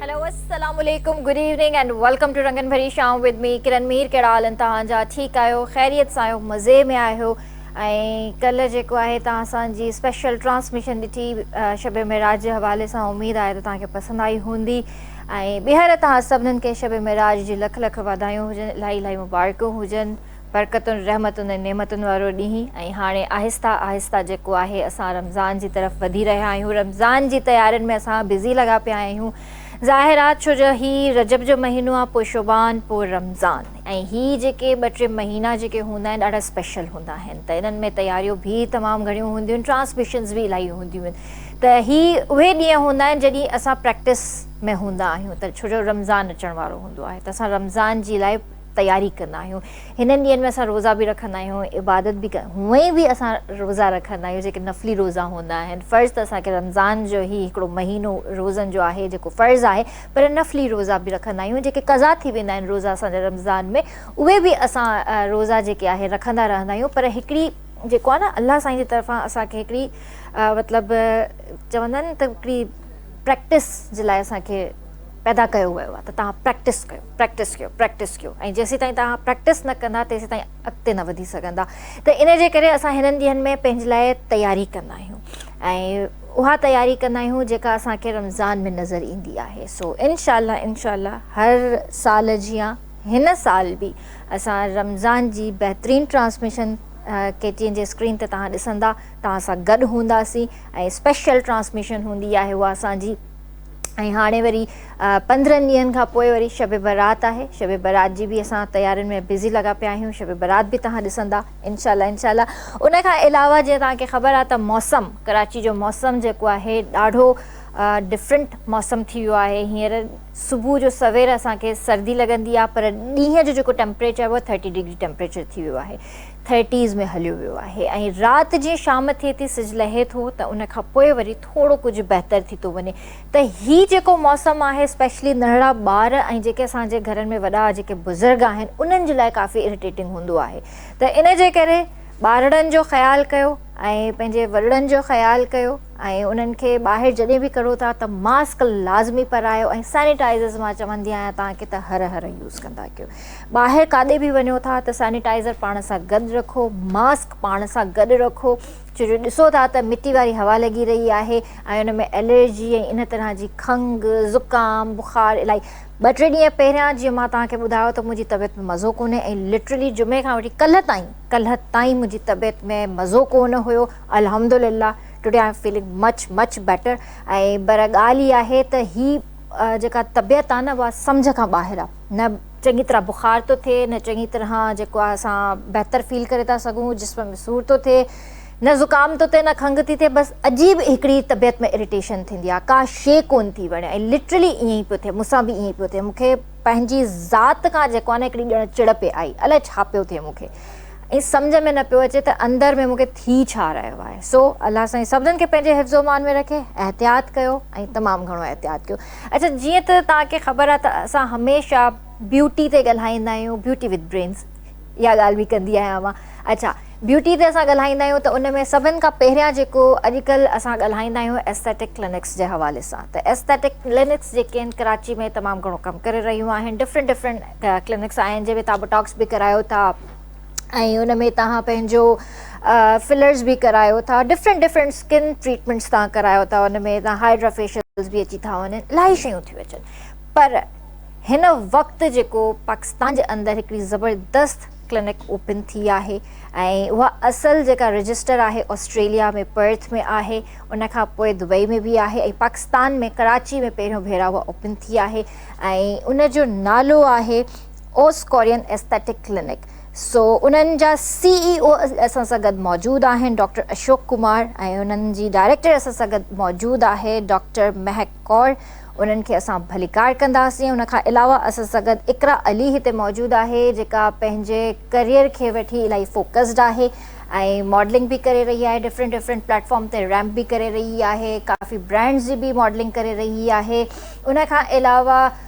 Hello السلام عليڪم good evening and welcome to رنگن ڀري شام ود مي ڪرن مير ڪهڙا حال ان توهان جا ٺيڪ آهيو خيريت سان آهيو مزي ۾ آهيو ۽ ڪل جيڪو آهي توهان سان جي اسپيشل ٽرانسميشن ڏٺي شب معراج جي حوالي سان اميد آهي ته توهان کي پسند آئي هوندي ۽ ٻيهر توهان سڀنن کي شب معراج جي لک لک واڌايون هجن الاهي الاهي مبارڪون هجن برڪتن، رحمتن ۽ نعمتن وارو ڏينهن ۽ هاڻي آهسته آهسته جيڪو آهي اسان رمضان جي طرف وڌي رهيا آهيون رمضان جي تيارين ۾ اسان بزي لڳا پيا آهيون ظاهر آ ڇو جو هي رجب جو مهينو آ پوء شعبان پوء رمضان ۽ هي جيڪي ٻه ٽي مهينا جيڪي هوندا آهن ڏاڍا اسپيشل هوندا آهن ته انهن ۾ تياريون ڀي تمام گهڻيون هونديون آهن ٽرانسميشنز به الائي هونديون آهن ته هي اهي ڏينهن هوندا آهن جڏهن اسان پريڪٽس ۾ هوندا آهيون ته ڇو جو رمضان اچڻ وارو هوندو آهي ته اسان رمضان جي الائي تياري ڪندا آهيون هنن ڏينهن ۾ اسان روزا به رکندا آهيون عبادت به هونئن به اسان روزا رکندا آهيون جيڪي نفلي روزا هوندا آهن فرض ته اسان کي رمضان جو هي هڪڙو مهينو روزن جو آهي جيڪو فرض آهي پر نفلي روزا به رکندا آهيون جيڪي قضا ٿي ويندا آهن روزا اسان جا رمضان ۾ اهي به اسان روزا جيڪي آهي رکندا رهندا آهيون پر هڪڙي جيڪو آهي نه الله سائين جي طرفان اسان کي هڪڙي مطلب چوندا آهن ته هڪڙي پريڪٽس جي لاء اسان کي پيدا ڪيو ويو آهي ته توهان پريڪٽس ڪيو، پريڪٽس ڪيو، پريڪٽس ڪيو ۽ جيسيتائين توهان پريڪٽس نه ڪندا تيسيتائين اڳتي نه وڌي سگهندا ته ان جي ڪري اسان هنن ڏينهن ۾ پنهنجي لاء تياري ڪندا آهيون ۽ اها تياري ڪندا آهيون جيڪا اسان کي رمضان ۾ نظر ايندي آهي سو انشاء الله انشاء الله هر سال جيان هن سال به اسان رمضان جي بهترين ٽرانسميشن ڪي ٽي اين جي اسڪرين تي توهان ڏسندا توهان سان گڏ هونداسين ۽ اسپيشل ٽرانسميشن هوندي آهي اها اسان جي ۽ هاڻي وري پندرهن ڏينهن کان پوء وري شب برات آهي شب برات جي به اسان تيارين ۾ بزي لڳا پيا آهيون شب برات به توهان ڏسندا انشاء الله انشاء الله ان کان علاوه جيئن توهان کي خبر آهي ته موسم ڪراچي جو موسم جيڪو آهي ڏاڍو ڊفرنٽ موسم ٿي ويو آهي هينئر صبح جو سوير اسان کي سردي لڳندي آهي پر ڏينهن جو جيڪو ٽيمپريچر آهي اهو ٿرٽي ڊگري ٽيمپريچر ٿي ويو آهي ٿرٽيز ۾ هليو ويو آهي ۽ رات جيئن شام ٿئي ٿي سج لهي ٿو ته ان کان پوء وري ٿورو ڪجهه بهتر ٿي ٿو وڃي ته هي جيڪو موسم آهي اسپيشلي ننڍڙا ٻار ۽ جيڪي اسان جي گهرن ۾ وڏا جيڪي بزرگ آهن انهن جي لاء ڪافي اريٽيٽنگ هوندو آهي ته ان جي ڪري ٻارڙن جو خيال ڪيو ۽ پنهنجي وڏڙن جو خيال ڪيو ۽ انهن کي ٻاهر جڏهن به ڪڙهو ٿا ته ماسڪ لازمي پرايو ۽ سينيٽائزرز مان چوندي آهيان توهان کي ته هر هر يوز ڪندا ڪيو ٻاهر ڪاڏي به وڃو ٿا ته سينيٽائزر پاڻ سان گڏ رکو، ماسڪ پاڻ سان گڏ رکو ڇو جو ڏسو ٿا ته مٽي واري هوا لڳي رهي آهي ۽ ان ۾ الرجي ۽ ان طرح جي کنگهه، زڪام، بخار الائي ٻه ٽي ڏينهن پهريان جيئن مان توهان کي ٻڌايو ته منهنجي طبيعت ۾ مزو ڪونهي ۽ لٽرلي جمعي کان وٺي ڪلهه تائين ڪلهه تائين منهنجي طبيعت ۾ مزو ڪونه هيو الحمدلله today I am feeling much much better ۽ پر ڳالهه هي آهي ته هي جيڪا طبيعت آهي نه اها سمجهه کان ٻاهر آهي. نه چڱي طرح بخار ٿو ٿئي، نه چڱي طرح جيڪو آهي اسان بهتر فيل ڪري ٿا سگهون، جسم ۾ سور ٿو ٿئي، نه زڪام ٿو ٿئي نه کنگهه ٿي ٿئي، بس عجيب هڪڙي طبيعت ۾ اريٽيشن ٿيندي آهي، ڪا شيء ڪونه ٿي وڻي ۽ لٽرلي ائين ئي پيو ٿئي، مون سان به ائين ئي پيو ٿئي، مون کي پنهنجي ذات کان جيڪو آهي نه هڪڙي ڄڻ چڙ پئي آئي، الائي ڇا پيو ٿئي مون کي ۽ سمجهه ۾ نه پيو اچي ته اندر ۾ مون کي ٿي ڇا رهيو آهي، سو الله سائين سڀنن کي پنهنجي حفظ و امان ۾ رکي، احتياط ڪيو ۽ تمام گهڻو احتياط ڪيو. اچا جيئن ته توهان کي خبر آهي ته اسان هميشه بيوٽي تي ڳالهائيندا آهيون بيوٽي وٿ برينز اها ڳالهه به ڪندي آهيان مان اچا بيوٽي تي اسان ڳالهائيندا آهيون ته ان ۾ سڀن کان پهريان جيڪو اڄڪلهه اسان ڳالهائيندا آهيون ايسٿيٽڪ ڪلينڪس جي حوالي سان ته ايسٿيٽڪ ڪلينڪس جيڪي آهن ڪراچي ۾ تمام گهڻو ڪم ڪري رهيون آهن ڊفرنٽ ڊفرنٽ ڪلينڪس آهن جنهن ۾ تهان بوٽاڪس به ڪرايو ٿا ۽ ان ۾ توهان پنهنجو فلرز به ڪرايو ٿا ڊفرنٽ ڊفرنٽ اسڪن ٽريٽمينٽس توهان ڪرايو ٿا ان ۾ توهان هائڊرا فيشلز به اچي ٿا وڃن الاهي شيون ٿيون اچن پر هن وقت جيڪو پاڪستان جي اندر هڪڙي زبردست ڪلينڪ اوپن ٿي آهي ۽ اها اصل جيڪا رجسٽر آهي آسٽريليا ۾ پرٿ ۾ آهي ان کان پوء دبئي ۾ به آهي ۽ پاڪستان ۾ ڪراچي ۾ پهريون ڀيرا اها اوپن ٿي آهي ۽ ان جو نالو آهي اوس ڪورين ايسٿيٽڪ ڪلينڪ سو انهن جا سي اي او اسان سان گڏ موجود آهن ڊاڪٽر اشوڪ ڪمار ۽ انهن جي ڊائريڪٽر اسان سان گڏ موجود آهي ڊاڪٽر مهڪ ڪور انهن کي اسان ڀليڪار ڪنداسين ان کان علاوه اسان سان گڏ اقرا علي هتي موجود آهي جيڪا پنهنجي ڪريئر کي وٺي الاهي فوڪسڊ آهي ۽ ماڊلنگ به ڪري رهي آهي ڊفرنٽ ڊفرنٽ پليٽ فارم تي ريمپ به ڪري رهي آهي ڪافي برانڊز جي به ماڊلنگ ڪري رهي آهي ان کان علاوه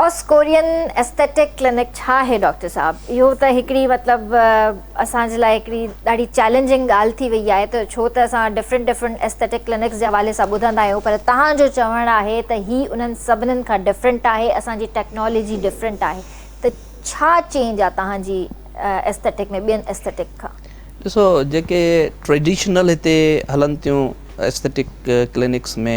اوس ڪورين ايسٿيٽڪ ڪلينڪ ڇا آهي ڊاڪٽر صاحب؟ اهو ته هڪڙي مطلب اسان جي لاء هڪڙي ڏاڍي چئلينجنگ ڳالهه ٿي وئي آهي ته ڇو ته اسان ڊفرنٽ ڊفرنٽ ايسٿيٽڪ ڪلينڪس جي حوالي سان ٻڌندا آهيون پر توهان جو چوڻ آهي ته هي انهن سڀنن کان ڊفرنٽ آهي اسان جي ٽيڪنالاجي ڊفرنٽ آهي ته ڇا چينج آهي توهان جي ايسٿيٽڪ ۾ ٻين ايسٿيٽڪ کان؟ ڏسو جيڪي ٽريڊيشنل هتي هلن ٿيون ايسٿيٽڪ ڪلينڪس ۾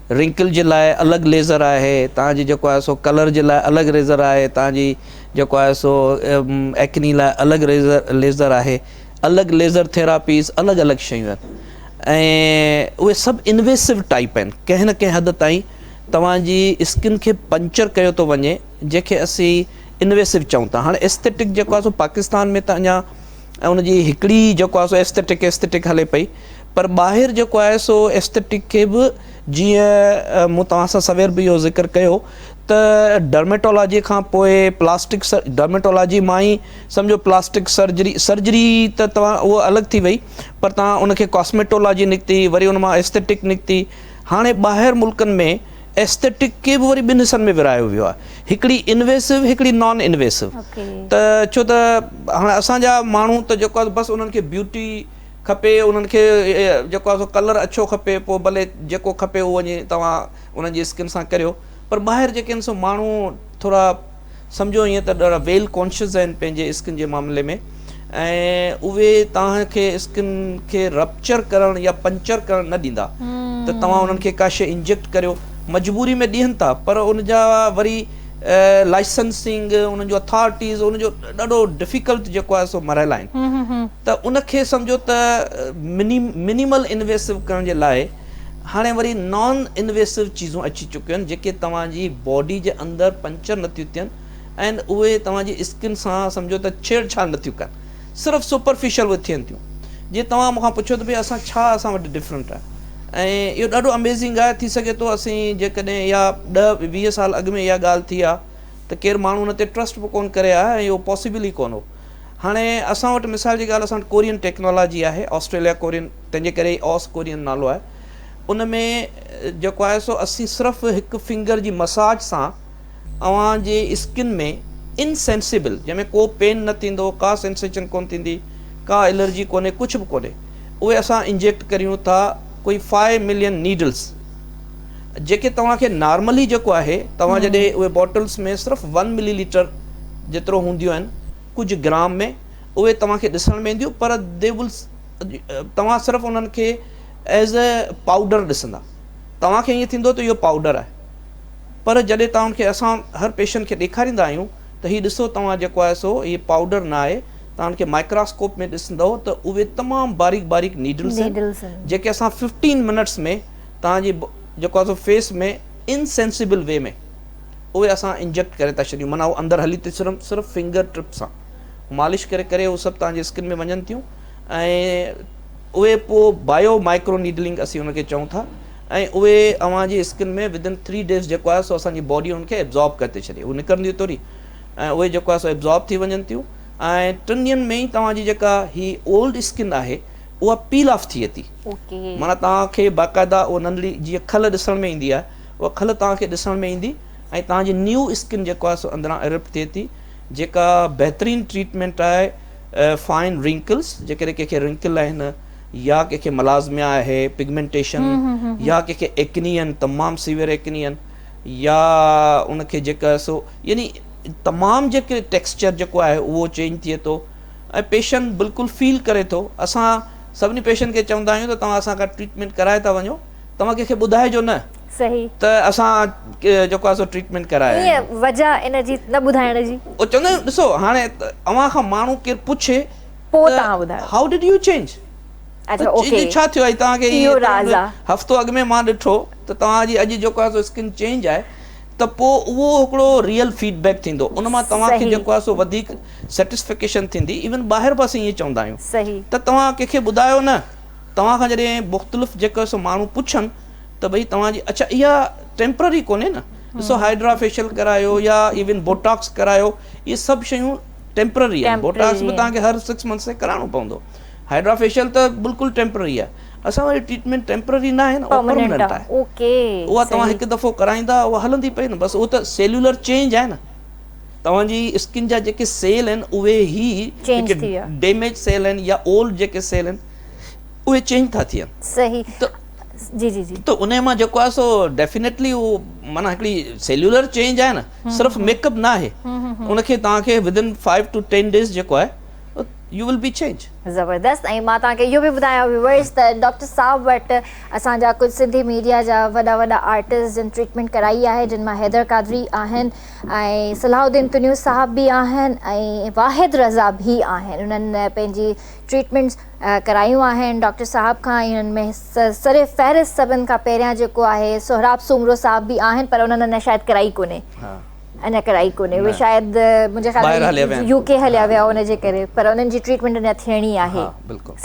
رنڪل جي لاء الڳ ليزر آهي تان جي جيڪو آهي سو ڪلر جي لاء الڳ ريزر آهي تان جي جيڪو آهي سو ايڪني لاء الڳ ريزر ليزر آهي الڳ ليزر ٿيراپيز الڳ الڳ شيون آهن ۽ اهي سڀ انويسو ٽائپ آهن ڪنهن نه ڪنهن حد تائين توهان جي اسڪن کي پنچر ڪيو ٿو وڃي جنهن کي اسين انويسو چئون ٿا هاڻي ايسٿيٽڪ جيڪو آهي سو پاڪستان ۾ ته اڃا ان جي هڪڙي جيڪو آهي سو ايسٿيٽڪ ايسٿيٽڪ هلي پئي پر ٻاهر جيڪو آهي سو Aesthetic کي به جيئن مون توهان سان سوير به اهو ذڪر ڪيو ته Dermatology کان پوء Plastic Dermatology مان ئي سمجهو Plastic Surgery Surgery ته توهان اهو الڳ ٿي وئي پر توهان ان کي Cosmetology نڪتي وري ان مان Aesthetic نڪتي هاڻي ٻاهر ملڪن ۾ Aesthetic کي به وري ٻن حصن ۾ ورهايو ويو آهي هڪڙي Invasive هڪڙي Non Invasive ته ڇو ته هاڻي اسان جا ماڻهو ته جيڪو آهي بس انهن کي Beauty کپي انهن کي جيڪو آهي سو ڪلر اڇو کپي پوء ڀلي جيڪو کپي اهو وڃي توهان انهن جي اسڪن سان ڪريو پر ٻاهر جيڪي آهن سو ماڻهو ٿورا سمجهو ائين ته ڏاڍا ويل ڪانشس آهن پنهنجي اسڪن جي معاملي ۾ ۽ اهي توهان کي اسڪن کي رپچر ڪرڻ يا پنچر ڪرڻ نه ڏيندا ته توهان انهن کي ڪا شيء انجيڪٽ ڪريو مجبوري ۾ ڏين ٿا پر ان جا وري لائسنسنگ انهن جو اٿارٽيز انهن جو ڏاڍو ڊفيڪلٽ جيڪو آهي سو مراحل آهن ته ان کي سمجهو ته منيمل انويسو ڪرڻ جي لاء هاڻي وري نان انويسو چيزون اچي چڪيون آهن جيڪي توهان جي باڊي جي اندر پنچر نٿيون ٿين ۽ اهي توهان جي اسڪن سان سمجهو ته ڇيڙ ڇاڙ نٿيون ڪن صرف سپرفيشل اهي ٿين ٿيون جي توهان مون کان پڇو ته ڀئي اسان ڇا اسان وٽ ڊفرنٽ آهي ۽ اهو ڏاڍو اميزنگ آهي ٿي سگهي ٿو اسين جيڪڏهن اها ڏهه ويهه سال اڳ ۾ اها ڳالهه ٿي ها ته ڪير ماڻهو ان تي ٽرسٽ به ڪون ڪري ها ۽ اهو پاسيبل ئي ڪون هو هاڻي اسان وٽ مثال جي ڳالهه اسان وٽ ڪورين ٽيڪنالاجي آهي آسٽريليا ڪورين تنهن جي ڪري ئي آس ڪورين نالو آهي ان ۾ جيڪو آهي سو اسين صرف هڪ فنگر جي مساج سان اوهان جي اسڪن ۾ ان سينسيبل جنهن ۾ ڪو پين نه ٿيندو ڪا سينسيشن ڪونه ٿيندي ڪا الرجي ڪونهي ڪجهه به ڪونهي اهي اسان انجيڪٽ ڪريون ٿا ڪوئي فائي ملين نيڊلس جيڪي توهان کي نارملي جيڪو آهي توهان جڏهن اهي بوٽلس ۾ صرف ون ملي ليٽر جيترو هونديون آهن ڪجهه گرام ۾ اهي توهان کي ڏسڻ ۾ اينديون پر دي ول توهان صرف انهن کي ايز اي پائوڊر ڏسندا توهان کي ائين ٿيندو ته اهو پائوڊر آهي پر جڏهن توهان کي اسان هر پيشنٽ کي ڏيکاريندا آهيون ته هي ڏسو توهان جيڪو آهي سو هي پائوڊر نه آهي توهان کي مائڪراسڪوپ ۾ ڏسندئو ته اهي تمام باريڪ باريڪ نيڊلز آهن نيڊلز آهن جيڪي اسان ففٽين منٽس ۾ توهان جي جيڪو آهي سو فيس ۾ ان سينسيبل وي ۾ اهي اسان انجيڪٽ ڪري ٿا ڇڏيون معنيٰ اهو اندر هلي ٿي سرم صرف فنگر ٽپ سان مالش ڪري ڪري اهي سڀ توهان جي اسڪن ۾ وڃن ٿيون ۽ اهي پوء بايو مائڪرو نيڊلنگ اسين ان کي چئون ٿا ۽ اهي اوهان جي اسڪن ۾ within three days جيڪو آهي سو اسان جي باڊي ان کي ابزارب ڪري ٿي ڇڏي هو نڪرنديون توري ۽ اهي جيڪو آهي سو ابزارب ٿي وڃن ٿيون ۽ ٽن ڏينهن ۾ ئي توهان جي جيڪا هي اولڊ اسڪن آهي اها پيل آف ٿئي ٿي معنيٰ توهان کي باقاعده اهو ننڍڙي جيئن کل ڏسڻ ۾ ايندي آهي اها کل توهان کي ڏسڻ ۾ ايندي ۽ توهان جي نيو اسڪن جيڪو آهي سو اندران ارپٽ ٿئي ٿي جيڪا بهترين ٽريٽمينٽ آهي فائن رنڪلس جيڪڏهن ڪنهن کي رنڪل آهن يا ڪنهن کي ملازميا آهي، پگمينٽيشن، يا ڪنهن کي ايڪني آهن، تمام سيويئر ايڪني آهن، يا ان کي جيڪا سو يعني تمام جيڪي ٽيڪسچر جيڪو آهي اهو چينج ٿئي ٿو ۽ پيشنٽ بلڪل فيل ڪري ٿو اسان سڀني پيشنٽ کي چوندا آهيون ته توهان اسان کان ٽريٽمينٽ ڪرائي ٿا وڃو توهان ڪنهن کي ٻڌائجو نه ته اسان جيڪو آهي سو ٽريٽمينٽ ڪرائي آيا آهيون. وجهه ان جي نه ٻڌائڻ جي. هو چوندا آهن ڏسو هاڻي اوهان کان ماڻهو ڪير پڇي پوء ته توهان ٻڌايو. هائو ڊڊ يو چينج؟ اچا او کي ڇا ٿيو آهي توهان کي اهو راز آ. هفتو اڳ ۾ مان ڏٺو ته توهان جي اڄ جيڪو آهي سو اسڪن چينج آهي ته پوء اهو هڪڙو ريئل فيڊ بيڪ ٿيندو ان مان توهان کي صحيح. جيڪو آهي سو وڌيڪ سيٽسفڪيشن ٿيندي ايون ٻاهر به اسين ائين چوندا آهيون صحيح. ته توهان ڪنهن کي ٻڌايو نه توهان کان جڏهن مختلف جيڪو آهي سو ماڻهو پڇن ته ڀئي توهان جي اچا اها ٽيمپرري ڪونهي نه ڏسو هائڊرا فيشل ڪرايو يا ايون بوٽاڪس ڪرايو اهي سڀ شيون ٽيمپرري آهن بوٽاڪس به توهان کي هر سڪس منٿس تي ڪرائڻو پوندو هائڊرا فيشل ته بلڪل ٽيمپرري آهي اسان واري ٽريٽمينٽ ٽيمپرري ناهي نه اهو پرميننٽ آهي اها توهان هڪ دفعو ڪرائيندا اها هلندي پئي نه بس اهو ته سيلولر چينج آهي نه توهان جي اسڪن جا جيڪي سيل آهن اهي هي جيڪي ڊيميج سيل آهن يا اولڊ جيڪي سيل آهن اهي چينج ٿا ٿين ته جي جي جي ته انهي مان جيڪو آهي سو ڊيفينيٽلي اهو معنيٰ هڪڙي سيلولر چينج آهي نه صرف ميڪ اپ ناهي ان کي توهان کي within five to ten days جيڪو آهي you will be change. زبردست ۽ مان توهان کي اهو به ٻڌايان ويورس ته ڊاڪٽر صاحب وٽ اسان جا ڪجهه سنڌي ميڊيا جا وڏا وڏا آرٽسٽ جن ٽريٽمينٽ ڪرائي آهي جن مان حيدر قادري آهن ۽ صلاح الدين تنيو صاحب به آهن ۽ واحد رضا به آهن انهن پنهنجي ٽريٽمينٽس ڪرايون آهن ڊاڪٽر صاحب کان ۽ انهن ۾ سر فهرست سڀن کان پهريان جيڪو آهي سهراب سومرو صاحب به آهن پر انهن اڃا شايد ڪرائي ڪونهي اڃا ڪرائي ڪونهي اهي شايد منهنجي خيال ۾ يو ڪي هليا ويا ان جي ڪري پر انهن جي ٽريٽمينٽ اڃا ٿيڻي آهي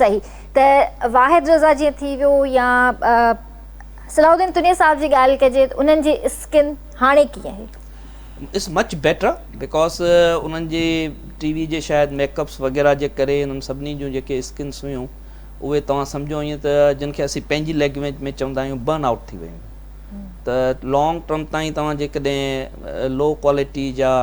صحيح ته واحد رضا جيئن ٿي ويو يا صلاح الدين تنير صاحب جي ڳالهه ڪجي انهن جي اسڪن هاڻي ڪيئن آهي؟ اٽس مچ بيٽر بڪاز انهن جي ٽي وي جي شايد ميڪ اپس وغيره جي ڪري انهن سڀني جون جيڪي اسڪنس هيون اهي توهان سمجهو ائين ته جن کي اسين پنهنجي ليگويج ۾ چوندا آهيون برن آئوٽ ٿي ويون ته لانگ ٽرم تائين توهان جيڪڏهن لو ڪوالٽي جا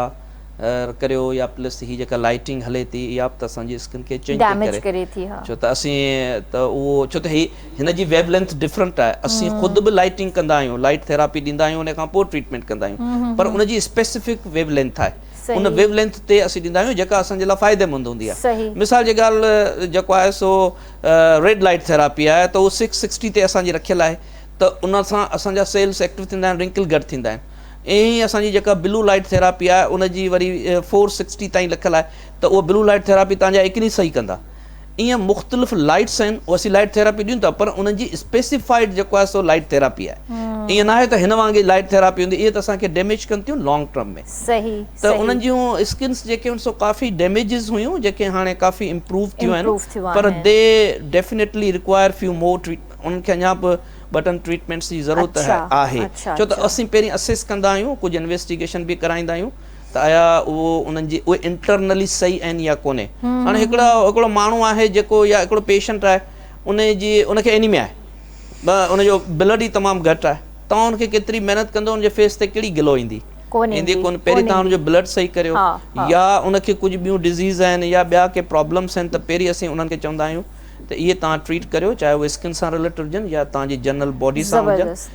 ڪريو يا پلس هي جيڪا لائٽنگ هلي ٿي اها به ته اسان جي اسڪن کي چينج ٿي ڪري ڇو ته اسين ته اهو ڇو ته هي هن جي ويو لينٿ ڊفرنٽ آهي اسين خود به لائيٽنگ ڪندا آهيون لائيٽ ٿيراپي ڏيندا آهيون ان کان پوء ٽريٽمينٽ ڪندا آهيون پر ان جي اسپيسفڪ ويو لينٿ آهي ان ويو لينٿ تي اسين ڏيندا آهيون جيڪا اسان جي لاء فائدي مند هوندي آهي مثال جي ڳالهه جيڪو آهي سو ريڊ لائيٽ ٿيراپي آهي ته اهو سڪس سڪسٽي تي اسان جي رکيل آهي ته ان سان اسان جا سيلس ايڪٽو ٿيندا آهن رنڪل گهٽ ٿيندا آهن ائين ئي اسان جي جيڪا بلو لائيٽ ٿيراپي آهي ان جي وري فور سڪسٽي تائين لکيل آهي ته اهو بلو لائيٽ ٿيراپي تهان جا اڪني صحيح ڪندا ايئن مختلف لائيٽس آهن هو اسين لائيٽ ٿيراپي ڏيون ٿا پر انهن جي اسپيسيفائيڊ جيڪو آهي سو لائيٽ ٿيراپي آهي ايئن ناهي ته هن وانگي لائيٽ ٿيراپي هوندي اهي ته اسان کي ڊيميج ڪن ٿيون لانگ ٽرم ۾ ته انهن جون اسڪنس جيڪي هيون سو ڪافي ڊيميجز هيون جيڪي هاڻي ڪافي امپروو ٿيون آهن پر they definitely require few more treatment انهن کي اڃا به ٻه ٽن ٽريٽمينٽس جي ضرورت آهي ڇو ته اسين پهرين اسيس ڪندا آهيون ڪجهه انويسٽيگيشن به ڪرائيندا آهيون ته آيا اهو انهن جي اهي انٽرنلي صحيح آهن يا ڪونهي هاڻي هڪڙا هڪڙو ماڻهو آهي جيڪو يا هڪڙو پيشنٽ آهي ان جي ان کي انيميا آهي ان جو بلڊ ئي تمام گهٽ آهي تون ان کي ڪيتري محنت ڪندو ان جي فيس تي ڪهڙي گلو ايندي ڪونهي ايندي ڪونهي پهرين تان ان جو بلڊ صحيح ڪريو يا ان کي ڪجهه ٻيون ڊزيز آهن يا ٻيا ڪي پرابلمس آهن ته پهرين اسين انهن کي چوندا آهيون ته اهي تان ٽريٽ ڪريو چاهي اهي اسڪن سان رليٽيڊ هجن يا تان جي جنرل باڊي سان هجن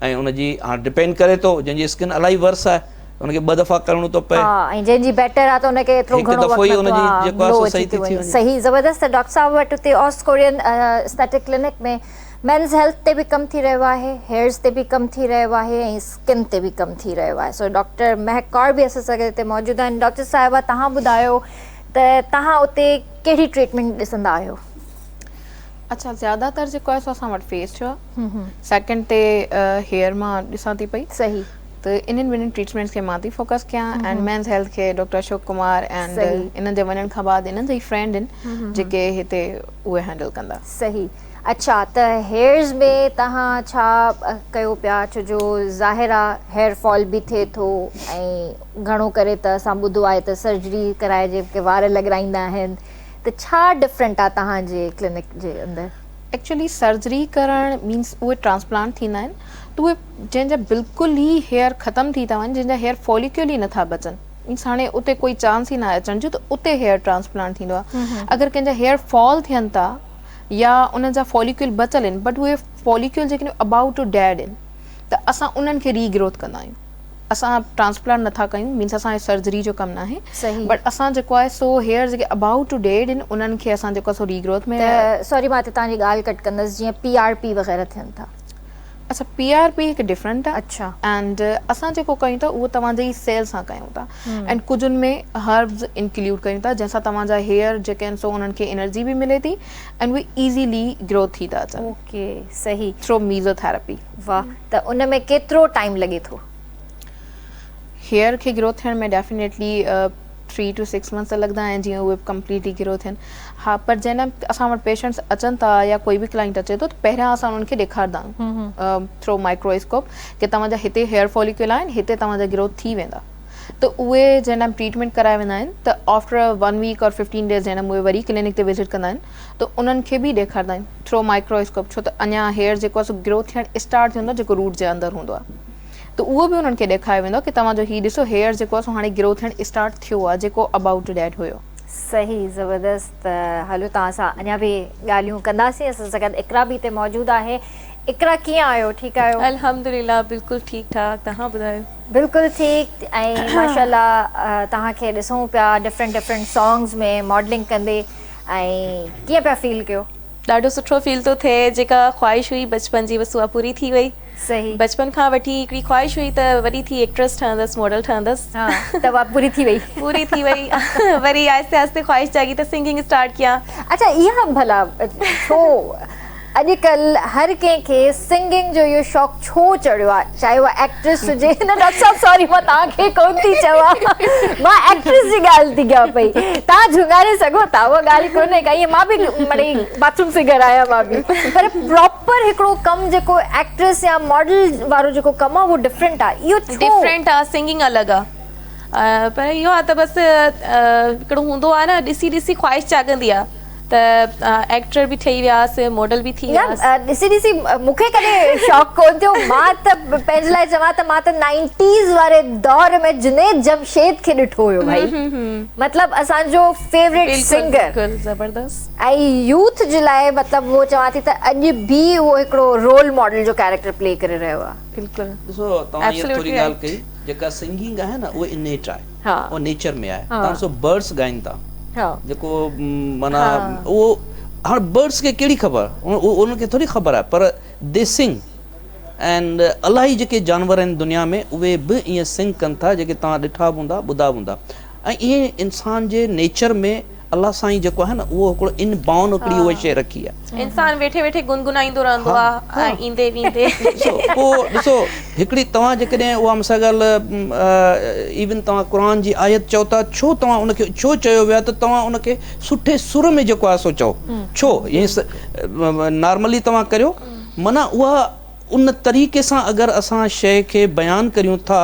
۽ ان جي هاڻ ڊپينڊ ڪري ٿو جنهن جي اسڪن الاهي ورس آهي ان کي ٻه دفعا ڪرڻو ٿو پئي. ها ۽ جنهن جي بيٽر آهي ته ان کي ايترو گهڻو وقت نٿو ها گلو اچي ٿي وڃي صحيح زبردست ڊاڪٽر صاحب وٽ اتي آس Korean aesthetic clinic ۾ men's health تي به ڪم ٿي رهيو آهي هيئرز تي به ڪم ٿي رهيو آهي ۽ اسڪن تي به ڪم ٿي رهيو آهي سو ڊاڪٽر مهڪ ڪور به اسان سان گڏ اتي موجود آهن ڊاڪٽر صاحبه توهان ٻڌايو ته توهان اتي ڪهڙي ٽريٽمينٽ ڏسندا آهيو. اڇا زياده تر جيڪو آهي سو اسان وٽ فيس جو آهي سيڪنڊ تي هيئر مان ڏسان ٿي پئي صحيح ته انهن ٻنهن ٽريٽمينٽس کي مان ٿي فوڪس ڪيان ۽ مينز هيلٿ کي ڊاڪٽر اشوڪ ڪمار ۽ انهن جي وڃڻ کان بعد انهن جا ئي فرينڊ آهن جيڪي هتي اهي هينڊل ڪندا صحيح اڇا ته هيئرز ۾ تهان ڇا ڪيو پيا ڇو جو ظاهر آهي هيئر فال به ٿئي ٿو ۽ گهڻو ڪري ته اسان ٻڌو آهي ته سرجري ڪرائي جيڪي وار لڳرائيندا آهن ته ڇا ڊفرنٽ آ توهان جي ڪلينڪ جي اندر؟ ايڪچولي سرجري ڪرڻ مينس اهي ٽرانسپلانٽ ٿيندا آهن ته اهي جنهن جا بلڪل ئي هيئر ختم ٿي ٿا وڃن جنهن جا هيئر فوليڪيول ئي نٿا بچن مينس هاڻي اتي ڪوئي چانس ئي ناهي اچڻ جو ته اتي هيئر ٽرانسپلانٽ ٿيندو آهي اگر ڪنهن جا هيئر فال ٿين ٿا يا انهن جا فوليڪيول بچل آهن بٽ اهي فوليڪيول جيڪي ابائوٽ ٽو ڊيڊ آهن ته اسان انهن کي ري گروٿ ڪندا آهيون اسان ٽرانسپلانٽ نٿا ڪيون مينس اسان جو سرجري جو ڪم ناهي بٽ اسان جيڪو آهي سو هيئرز جيڪي ابائوٽ ٽو ڊيڊ ان انهن کي اسان جيڪو آهي سو ري گروٿ ۾ سوري مان هتي توهان جي ڳالهه ڪٽ ڪندس جيئن پي آر پي وغيره ٿين ٿا. اچا پي آر پي هڪ ڊفرنٽ آهي اڇا اينڊ اسان جيڪو ڪيون ٿا اهو توهان جي سيل سان ڪيون ٿا اينڊ ڪجهه ان ۾ هربز انڪلوڊ ڪيون ٿا جنهن سان توهان جا هيئر جيڪي آهن سو انهن کي انرجي به ملي ٿي اينڊ اهي ايزيلي گروٿ ٿي ٿا اچن اوڪي صحيح ٿرو ميزو ٿيراپي واهه ته ان ۾ ڪيترو ٽائيم لڳي ٿو؟ هيئر کي گرو ٿيڻ ۾ definitely three two six months ته لڳندا آهن جيئن اهي ڪمپليٽلي گرو ٿين ها پر جنهن ٽائيم اسان وٽ پيشنٽس اچن ٿا يا ڪوئي به ڪلائنٽ اچي ٿو ته پهريان اسان انهن کي ڏيکاردا آهيون ٿرو مائڪرو اسڪوپ ڪي توهان جا هتي هيئر فوليڪيول آهن هتي توهان جا گرو ٿي ويندا ته اهي جنهن ٽائيم ٽريٽمينٽ ڪرائي ويندا آهن ته after one week or fifteen days جنهن ٽائيم اهي وري ڪلينڪ تي وزٽ ڪندا آهن ته انهن کي به ڏيکارندائين ٿرو مائڪرواسڪوپ ڇو ته اڃا هيئر جيڪو آهي سو گرو ٿيڻ اسٽارٽ ٿيندو جيڪو روٽ جي اندر هوندو آهي ته اهو به انهن کي ڏيکاريو ويندو ڪي توهان جو هي ڏسو هيئر جيڪو آهي سو هاڻي گرو ٿيڻ اسٽارٽ ٿيو آهي جيڪو ابائوٽ ڊيڊ هيو. صحيح زبردست ته هلو توهان سان اڃا به ڳالهيون ڪنداسين اسان سان گڏ اقرا به هتي موجود آهي اقرا ڪيئن آهيو ٺيڪ آهيو. الحمدلله بلڪل ٺيڪ ٺاڪ توهان ٻڌايو. بلڪل ٺيڪ ۽ ماشاءالله توهان کي ڏسون پيا ڊفرنٽ ڊفرنٽ سانگز ۾ ماڊلنگ ڪندي ۽ ڪيئن پيا فيل ڪيو؟ ڏاڍو سٺو فيل ٿو ٿئي جيڪا خواهش هئي بچپن جي بس اها پوري ٿي وئي صحيح بچپن کان وٺي هڪڙي خواهش هئي ته وڏي ٿي ايڪٽريس ٺهندس ماڊل ٺهندس ها ته اها پوري ٿي وئي پوري ٿي وئي وري آهستي آهستي خواهش جاڳي ته سنگنگ اسٽارٽ ڪيان اڇا اها ڀلا ڇو اڄڪلھ ھر ڪنھن کي سنگنگ جو اھو شوق ڇو چڙھيو آھي چاھي اھا ايڪٽريس ھجي نه ڊاڪٽر صاحب ساري مان توھان کي ڪون ٿي چوان مان ايڪٽريس جي ڳالھ ٿي ڪيان پئي توھان جھونگاري سگھو ٿا اھا ڳالھ ڪونھي ڪا ائين مان به مڙئي باٿروم فگر آھيان مان به پر پراپر ھڪڙو ڪم جيڪو ايڪٽريس يا ماڊل وارو جيڪو ڪم آھي اھو ڊفرنٽ آھي اھو ڇو ڊفرنٽ آھي سنگنگ الڳ آھي پر اھو آھي ته بس ھڪڙو ھوندو آھي نه ڏسي ڏسي خواھش جاڳندي آھي ته ايڪٽر به ٺهي وياس ماڊل به ٿي وياس. نه ڏسي ڏسي مون کي ڪڏهن شوق ڪون ٿيو مان ته پنهنجي لاء چوان ته مان ته نائنٽيز واري دور ۾ جنيد جمشيد کي ڏٺو هيو ڀائي مطلب اسان جو فيوريٽ سنگر ۽ يوٿ جي لاء مطلب اهو چوان ٿي ته اڄ به اهو هڪڙو رول ماڊل جو ڪيريڪٽر پلي ڪري رهيو آهي. ڏسو توهان هيء ٿوري ڳالهه ڪئي جيڪا سنگنگ آهي نه اهو انيٽ آهي. ها اهو نيچر ۾ آهي تان سو برڊس ڳائين ٿا ها جيڪو معنيٰ ها اهو هاڻ برڊس کي ڪهڙي خبر انهن کي ٿوري خبر آهي پر دي سنگ اينڊ الاهي جيڪي جانور آهن دنيا ۾ اهي به ائين سنگ ڪن ٿا جيڪي توهان ڏٺا به هوندا ٻڌا به هوندا ۽ ائين انسان جي نيچر ۾ الله سائين جيڪو آهي نه اهو هڪڙو ان بائون هڪڙي اهو شي رکي آ. انسان ويٺي ويٺي گنگنائيندو رهندو آ ۽ ايندي ويندي. ڏسو پو ڏسو هڪڙي توهان جيڪڏهن اها مون سان ڳالهه ايون توهان قرآن جي آيت چئو ٿا ڇو توهان ان کي ڇو چيو ويو آ ته توهان ان کي سٺي سر ۾ جيڪو آهي سو چئو ڇو ائين نارملي توهان ڪريو معنيٰ اها ان طريقي سان اگر اسان شيء کي بيان ڪريون ٿا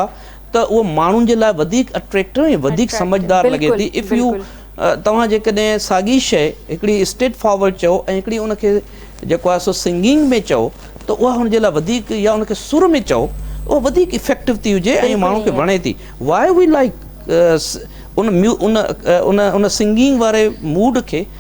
ته اهو ماڻهن جي لاء وڌيڪ اٽريڪٽو ۽ وڌيڪ سمجهدار لڳي ٿي اف يو توهان جيڪڏهن ساڳي شئي هڪڙي اسٽريٽ فارورڊ چئو ۽ هڪڙي ان کي جيڪو آهي سو سنگنگ ۾ چئو ته اها هن جي لاء وڌيڪ يا ان کي سر ۾ چئو اها وڌيڪ افيڪٽو ٿي هجي ۽ ماڻهو کي وڻي ٿي why we like in in in singing واري موڊ کي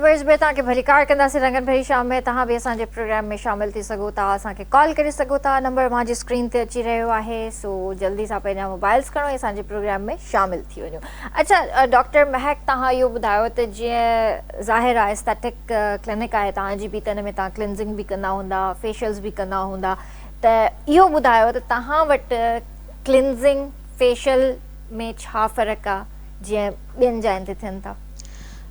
ويس ۾ توهان کي ڀلي ڪار ڪنداسين رنگن ڀري شام ۾ توهان به اسان جي پروگرام ۾ شامل ٿي سگهو ٿا اسان کي ڪال ڪري سگهو ٿا نمبر اوهان جي اسڪرين تي اچي رهيو آهي سو جلدي سان پنهنجا موبائلز کڻو ۽ اسان جي پروگرام ۾ شامل ٿي وڃو اچا ڊاڪٽر مهڪ توهان اهو ٻڌايو ته جيئن ظاهر آهي اسٽيٽڪ ڪلينڪ آهي توهان جي به ته ان ۾ توهان ڪلينزنگ به ڪندا هوندا فيشلز به ڪندا هوندا ته اهو ٻڌايو ته توهان وٽ ڪلينزنگ فيشل ۾ ڇا فرق آهي جيئن ٻين جاين تي ٿين ٿا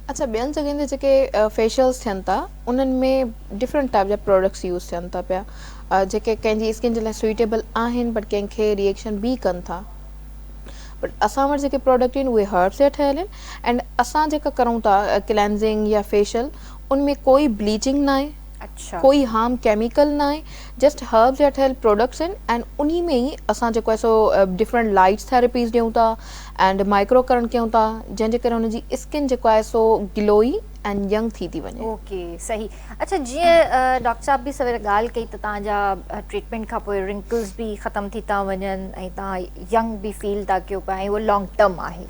اڇا ٻين جڳهين تي جيڪي فيشلس ٿين ٿا انهن ۾ ڊفرنٽ ٽائيپ جا پراڊڪٽس يوز ٿين ٿا پيا جيڪي ڪنهن جي اسڪن جي لاء سوئيٽيبل آهن بٽ ڪنهن کي ريئڪشن به ڪن ٿا بٽ اسان وٽ جيڪي پراڊڪٽ آهن اهي هربس جا ٺهيل آهن اينڊ اسان جيڪا ڪرون ٿا ڪلينزنگ يا فيشل ان ۾ ڪوئي بليچنگ ناهي اڇا ڪوئي هارم ڪيميڪل ناهي جسٽ هربس جا ٺهيل پراڊڪٽس آهن اينڊ انهي ۾ ئي اسان جيڪو آهي سو ڊفرنٽ لائٽس ٿيراپيز ڏيون ٿا اينڊ مائڪرو ڪرنٽ ڪيون ٿا جنهن جي ڪري ان جي اسڪن جيڪو آهي سو گلوئي اينڊ ينگ ٿي ٿي وڃي. اوڪي صحيح اڇا جيئن ڊاڪٽر صاحب به سوير ڳالهه ڪئي ته تان جا ٽريٽمينٽ کان پوء رنڪلز به ختم ٿي ٿا وڃن ۽ تان ينگ به فيل ٿا ڪيو پيا ۽ اهو لانگ ٽرم آهي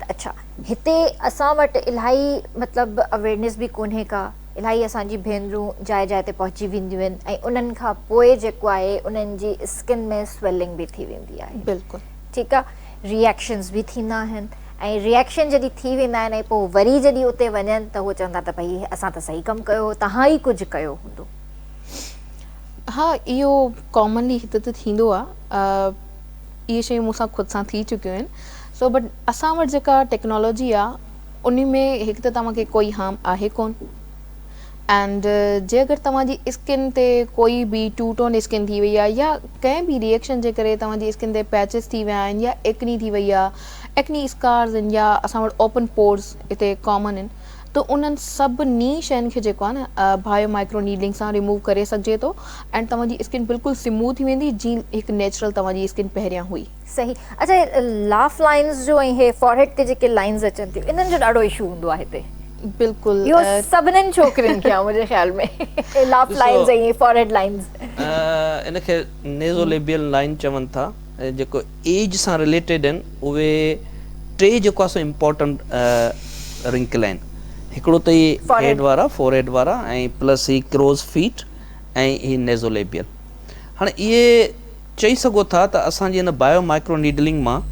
ته اڇا هتي اسان وٽ الاهي مطلب اويرنيس به ڪونهي ڪا الاهي اسان جي ڀينرون جاء جاء تي پهچي وينديون آهن ۽ انهن کان پوء جيڪو آهي انهن جي اسڪن ۾ سويلنگ به ٿي ويندي آهي بلڪل ٺيڪ آهي ري ايڪشنز به ٿيندا آهن ۽ ري ايڪشن جڏهن ٿي ويندا آهن ۽ پوء وري جڏهن اتي وڃن ته هو چوندا ته ڀئي اسان ته صحيح ڪم ڪيو هو توهان ئي ڪجهه ڪيو هوندو. ها اهو ڪامنلي هتي ته ٿيندو آهي اهي شيون مون سان خود سان ٿي چڪيون آهن سو بٽ اسان وٽ جيڪا ٽيڪنالاجي آهي ان ۾ هڪ ته توهان کي ڪوئي هارم آهي ڪون. اينڊ جي اگر توهان جي اسڪن تي ڪوئي به ٽو ٽون اسڪن ٿي وئي آهي يا ڪنهن به ري ايڪشن جي ڪري توهان جي اسڪن تي پيچز ٿي ويا آهن يا ايڪني ٿي وئي آهي ايڪني اسڪارز آهن يا اسان وٽ اوپن پورز هتي ڪامن آهن ته انهن سڀني شين کي جيڪو آهي نه بايو مائڪرو نيڊلنگ سان ريموو ڪري سگهجي ٿو اينڊ توهان جي اسڪن بلڪل سموٿ ٿي ويندي جيئن هڪ نيچرل توهان جي اسڪن پهريان هئي. صحيح اچا هي لاف لائنز جو ۽ هي فورهيڊ تي جيڪي لائنز اچن ٿيون انهن جو ڏاڍو ايشو هوندو آهي هتي بلڪل اهو سڀنن ڇوڪرين کي آهي منهنجي خيال ۾ هي لاف لائنز ۽ فورهيڊ لائنز ان کي نيزو ليبيل لائن چون ٿا جيڪو ايج سان رليٽيڊ آهن اهي ٽي جيڪو آهي سو امپورٽنٽ رنڪل آهن هڪڙو ته هي هيڊ وارا فورهيڊ وارا ۽ پلس هي ڪروز فيٽ ۽ هي نيزو ليبيل هاڻي اهي چئي سگهو ٿا ته اسان جي ان بايو مائڪرو نيڊلنگ مان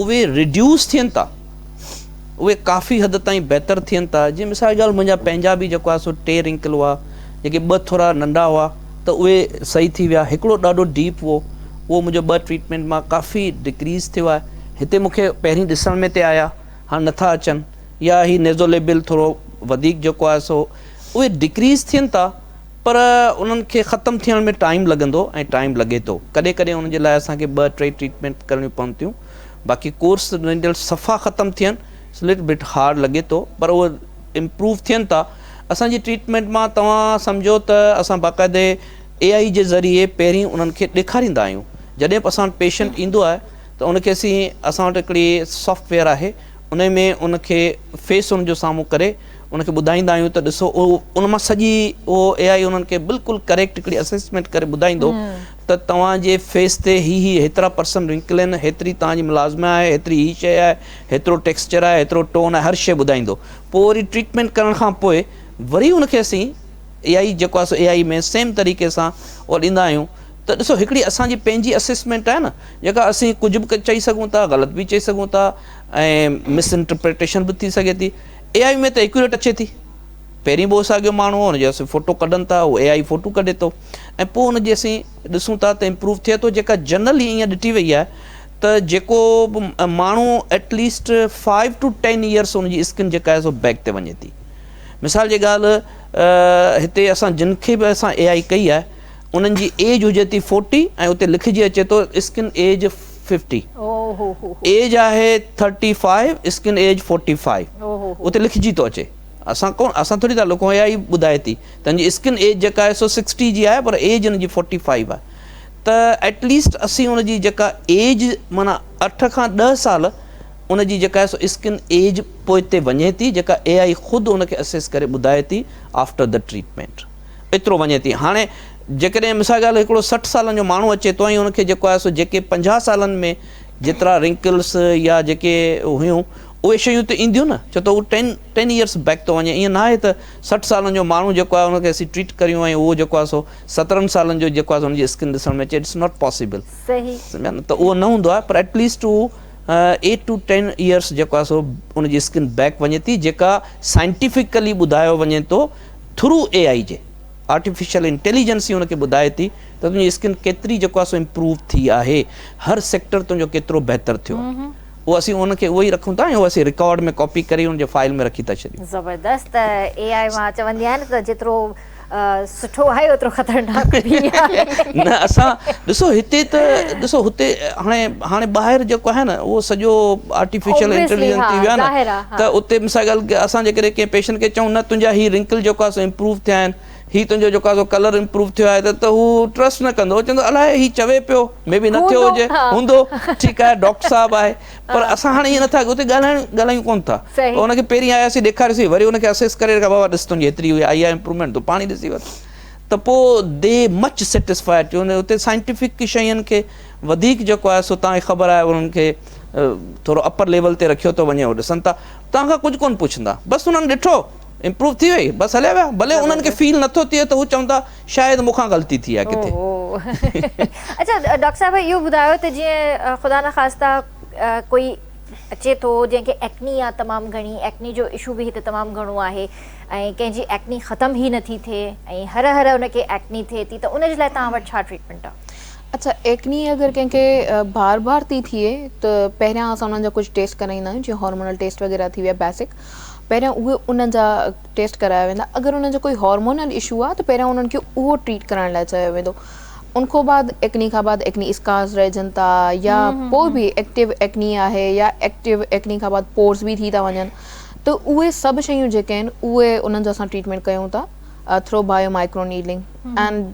اهي ريڊيوس ٿين ٿا اهي ڪافي حد تائين بهتر ٿين ٿا جيئن مثال جي ڳالهه منهنجا پنهنجا به جيڪو آهي سو ٽي رنڪل هئا جيڪي ٻه ٿورا ننڍا هئا ته اهي صحيح ٿي ويا هڪڙو ڏاڍو ڊيپ هو اهو منهنجو ٻه ٽريٽمينٽ مان ڪافي ڊڪريز ٿيو آهي هتي مون کي پهرين ڏسڻ ۾ تي آيا هاڻ نٿا اچن يا هي نيزوليبل ٿورو وڌيڪ جيڪو آهي سو اهي ڊڪريز ٿين ٿا. پر انهن کي ختم ٿيڻ ۾ ٽائيم لڳندو ۽ ٽائيم لڳي ٿو ڪڏهن ڪڏهن ان جي لاء اسان کي ٻه ٽي ٽريٽمينٽ ڪرڻيون پون ٿيون باقي ڪورس رزلٽ صفا ختم ٿين سو لٽ بٽ هارڊ لڳي ٿو پر اهي امپروو ٿين ٿا اسان جي ٽريٽمينٽ مان توهان سمجهو ته اسان باقاعدي اي آئي جي ذريعي پهرين انهن کي ڏيکاريندا آهيون جڏهن به اسان وٽ پيشنٽ ايندو آهي ته ان کي اسين اسان وٽ هڪڙي سافٽ ويئر آهي انهي ۾ ان کي فيس ان جو سامهون ڪري ان کي ٻڌائيندا آهيون ته ڏسو اهو ان مان سڄي اهو اي آئي انهن کي بلڪل ڪريڪٽ هڪڙي اسسمينٽ ڪري ٻڌائيندو ته توهان جي فيس تي هي هي هيترا پرسنٽ رنڪل آهن هيتري توهان جي ملازمه آهي هيتري هي شي آهي هيترو ٽيڪسچر آهي هيترو ٽون آهي هر شي ٻڌائيندو پوء وري ٽريٽمينٽ ڪرڻ کان پوء وري ان کي اسين اي آئي جيڪو آهي سو اي آئي ۾ سيم طريقي سان اهو ڏيندا آهيون ته ڏسو هڪڙي اسان جي پنهنجي اسسمينٽ آهي نه جيڪا اسين ڪجهه به چئي سگهون ٿا غلط به چئي سگهون ٿا ۽ مس انٽرپريٽيشن به ٿي سگهي ٿي اي آئي ۾ ته ايڪيوريٽ اچي ٿي پهرين به ساڳيو ماڻهو هو ان جي اسين فوٽو ڪڍن ٿا اي آئي فوٽو ڪڍي ٿو ۽ پوء ان جي اسين ڏسون ٿا ته امپروو ٿئي ٿو جيڪا جنرلي ائين ڏٺي وئي آهي ته جيڪو به ماڻهو at least five two ten years ان جي اسڪن جيڪا آهي سو بيڪ تي وڃي ٿي مثال جي ڳالهه هتي اسان جن کي به اسان اي آئي ڪئي آهي انهن جي ايج هجي ٿي فورٽي ۽ اتي لکجي اچي ٿو اسڪن ايج ففٽي ايج آهي thirty five skin age forty five اتي لکجي ٿو اچي اسان ڪون اسان ٿوري ٿا لکون اي آئي ٻڌائي ٿي ته ان جي اسڪن ايج جيڪا آهي سو سڪسٽي جي آهي پر ايج ان جي فورٽي فائيو آهي ته ايٽ ليسٽ اسين ان جي جيڪا ايج معنيٰ اٺ کان ڏهه سال ان جي جيڪا آهي سو اسڪن ايج پوئتي وڃي ٿي جيڪا اي آئي خود ان کي اسيس ڪري ٻڌائي ٿي آفٽر دا ٽريٽمينٽ ايترو وڃي ٿي هاڻي جيڪڏهن مثال ڳالهه هڪڙو سٺ سالن جو ماڻهو اچي ٿو ۽ ان کي جيڪو آهي سو جيڪي پنجاهه سالن ۾ جيترا رنڪلس يا جيڪي هيون اهي شيون ته اينديون نه ڇو ته هو ٽين ٽين ايئرس بيڪ ٿو وڃي ائين ناهي ته سٺ سالن جو ماڻهو جيڪو آهي ان کي اسين ٽريٽ ڪريون ۽ اهو جيڪو آهي سو سترهن سالن جو جيڪو آهي سو ان جي اسڪن ڏسڻ ۾ اچي اٽس ناٽ پاسيبل سمجهيا نه ته اهو نه هوندو آهي پر ايٽليسٽ هو ايٽ ٽو ٽين ايئرس جيڪو آهي سو ان جي اسڪن بيڪ وڃي ٿي جيڪا سائنٽيفڪلي ٻڌايو وڃي ٿو ٿرو اي آئي جي آرٽيفيشل انٽيليجنس ئي ان کي ٻڌائي ٿي ته تنهنجي اسڪن ڪيتري جيڪو آهي سو امپروو ٿي آهي هر سيڪٽر تنهنجو ڪيترو بهتر ٿيو آهي اهو اسين ان کي اهو ئي رکون ٿا ۽ اهو اسين رڪارڊ ۾ ڪاپي ڪري ان جي فائل ۾ رکي ٿا ڇڏيون. زبردست اي آئي مان چوندي آهيان نه ته جيترو سٺو آهي اوترو خطرناڪ به آهي. نه اسان ڏسو هتي ته ڏسو هتي هاڻي هاڻي ٻاهر جيڪو آهي نه اهو سڄو آرٽيفيشل انٽيليجنس ٿي ويو آهي نه ته اتي مثال جي ڳالهه اسان جيڪڏهن ڪنهن پيشنٽ کي چئون نه تنهنجا هي رنڪل جيڪو آهي سو امپروو ٿيا آهن هي تنهنجو جيڪو آهي سو ڪلر امپروو ٿيو آهي ته هو ٽرسٽ نه ڪندو هو چوندو الاء هي چوي پيو مي بي نه ٿيو هجي هوندو ٺيڪ آهي ڊاڪٽر صاحب آهي پر اسان هاڻي ائين نه ٿا اتي ڳالهائڻ ڳالهايون ڪونه ٿا پر ان کي پهرين آياسين ڏيکاريوسين وري ان کي اسيس ڪري رکيو بابا ڏس تنهنجي هيتري آئي آهي امپروومينٽ تون پاڻ ئي ڏسي وٺ ته پوء دي مچ سيٽسفائيڊ ٿيون اتي سائنٽيفڪ شين کي وڌيڪ جيڪو آهي سو تان کي خبر آهي انهن کي ٿورو اپر ليول تي رکيو ٿو وڃي اهو ڏسن ٿا توهان کان ڪجهه ڪونه پڇندا بس انهن ڏٺو امپروو ٿي وئي بس هليا ويا ڀلي انهن کي فيل نٿو ٿئي ته هو چوندا شايد مون کان غلطي ٿي آهي ڪٿي اچا ڊاڪٽر صاحب اهو ٻڌايو ته جيئن خدا نه خاصتا ڪوئي اچي ٿو جنهن کي ايڪني آ تمام گهڻي ايڪني جو اشو به هت تمام گهڻو آهي ۽ ڪنهن جي ايڪني ختم هي نٿي ٿئي ۽ هر هر ان کي ايڪني ٿئي ٿي ته ان جي لاء توهان وٽ ڇا ٽريٽمينٽ آ اڇا ايڪني اگر ڪنهن کي بار بار ٿي ٿئي ته پهريان اسان انهن جا ڪجهه ٽيسٽ ڪرائيندا آهيون جيئن هارمونل ٽيسٽ وغيره ٿي ويا بيسڪ پهريان اهي انهن جا ٽيسٽ ڪرايا ويندا اگر انهن جو ڪوئي هارمونل اشو آهي ته پهريان انهن کي اهو ٽريٽ ڪرائڻ لاء چيو ويندو ان کان بعد ايڪني کان بعد ايڪني اسڪارز رهجن ٿا يا پوء به ايڪٽيو ايڪني آهي يا ايڪٽيو ايڪني کان بعد پورس به ٿي ٿا وڃن ته اهي سڀ شيون جيڪي آهن اهي انهن جو اسان ٽريٽمينٽ ڪيون ٿا ٿرو بايو مائڪرو نيڊلنگ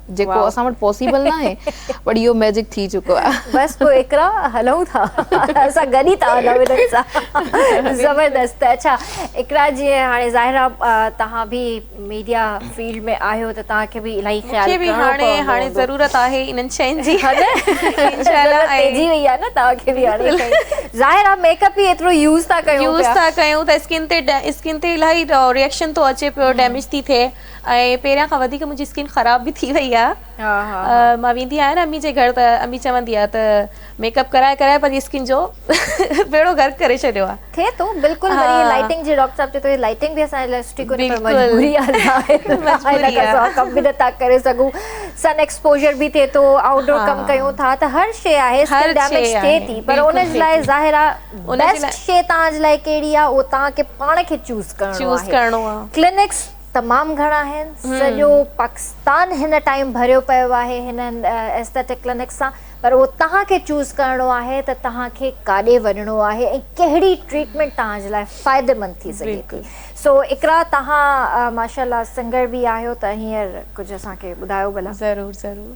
جيڪو اسان وٽ پاسيبل ناهي پر اهو ميجڪ ٿي چڪو آهي. بس پوء اقرا هلون ٿا اسان گڏ ئي ٿا هلون هنن سان زبردست اڇا اقرا جي هاڻي ظاهر آ توهان به ميڊيا فيلڊ ۾ آهيو ته توهان کي به الائي خيال ڪرڻو پوندو هوندو. مونکي به هاڻي ضرورت آهي انهن شين جي ها نه ضرورت پئجي وئي آهي نه توهان کي به هاڻي ظاهر آ ميڪ اپ ئي ايترو يوز ٿا ڪيون پيا يوز ٿا ڪيون ته اسڪن تي اسڪن تي الائي ريئڪشن ٿو اچي پيو ڊيميج ٿي ٿئي. ۽ پهريان کان وڌيڪ منهنجي اسڪن خراب به ٿي وئي آهي مان ويندي آهيان نه امي جي گهر ته امي چوندي آهي ته ميڪ اپ ڪرائي ڪرائي پنهنجي اسڪن جو بيڙو غرق ڪري ڇڏيو آهي ٿئي ٿو بلڪل وري هي لائٽنگ جي ڊاڪٽر صاحب چي ٿو هي لائٽنگ به اسان جي لاء سٺي ڪونهي پر مجبوري آهي ظاهر مجبوري آهي اسان ڪم به نٿا ڪري سگهون سن ايڪسپوجر به ٿئي ٿو آئوٽ ڊور ڪم ڪيون ٿا ته هر شي آهي اسڪن ڊيميج ٿئي ٿي پر ان جي لاء ظاهر آهي بيسٽ شي توهان جي لاء ڪهڙي آهي اهو توهان کي پاڻ کي چوز ڪرڻو آهي ڪلينڪس تمام گهڻا آهن سڄو پاڪستان هن ٽائيم ڀريو پيو آهي هن ايسٿيٽڪ ڪلينڪ سان پر اهو توهان کي چوز ڪرڻو آهي ته توهان کي ڪاڏي وڃڻو آهي ۽ ڪهڙي ٽريٽمينٽ توهان جي لاء فائديمند ٿي سگهي ٿي سو اقرا توهان ماشاءالله سنگر به آهيو ته هينئر ڪجهه اسان کي ٻڌايو ڀلا ضرور ضرور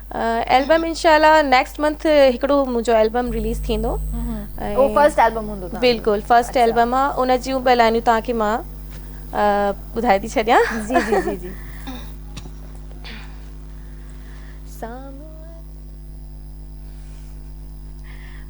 البم انشاء الله نيڪسٽ منٿ هڪڙو منهنجو البم رليز ٿيندو اهو فرسٽ البم هوندو بلڪل فرسٽ البم آ ان جون به لائنيون توهان کي مان ٻڌائي ٿي ڇڏيان جي جي جي جي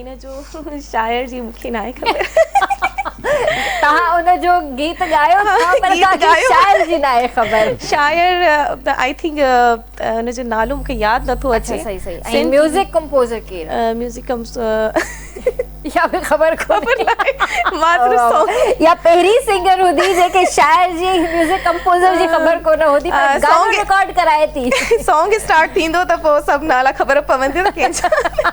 ان جو شاعر جي مونکي ناهي خبر تها ان جو گيت ڳايو پر ان جو شاعر جي ناهي خبر شاعر آئي ٿنڪ ان جو نالو مونکي ياد نٿو اچي صحيح صحيح ۽ ميوزڪ ڪمپوزر ڪير ميوزڪ يا به خبر خبر ناهي مان صرف سونگ يا پهرين سنگر هوندي جيڪي شاعر جي ميوزڪ ڪمپوزر جي خبر ڪو نه هوندي پر گانو رڪارڊ ڪرائي ٿي سونگ اسٽارٽ ٿيندو ته پوء سڀ نالا خبر پوندي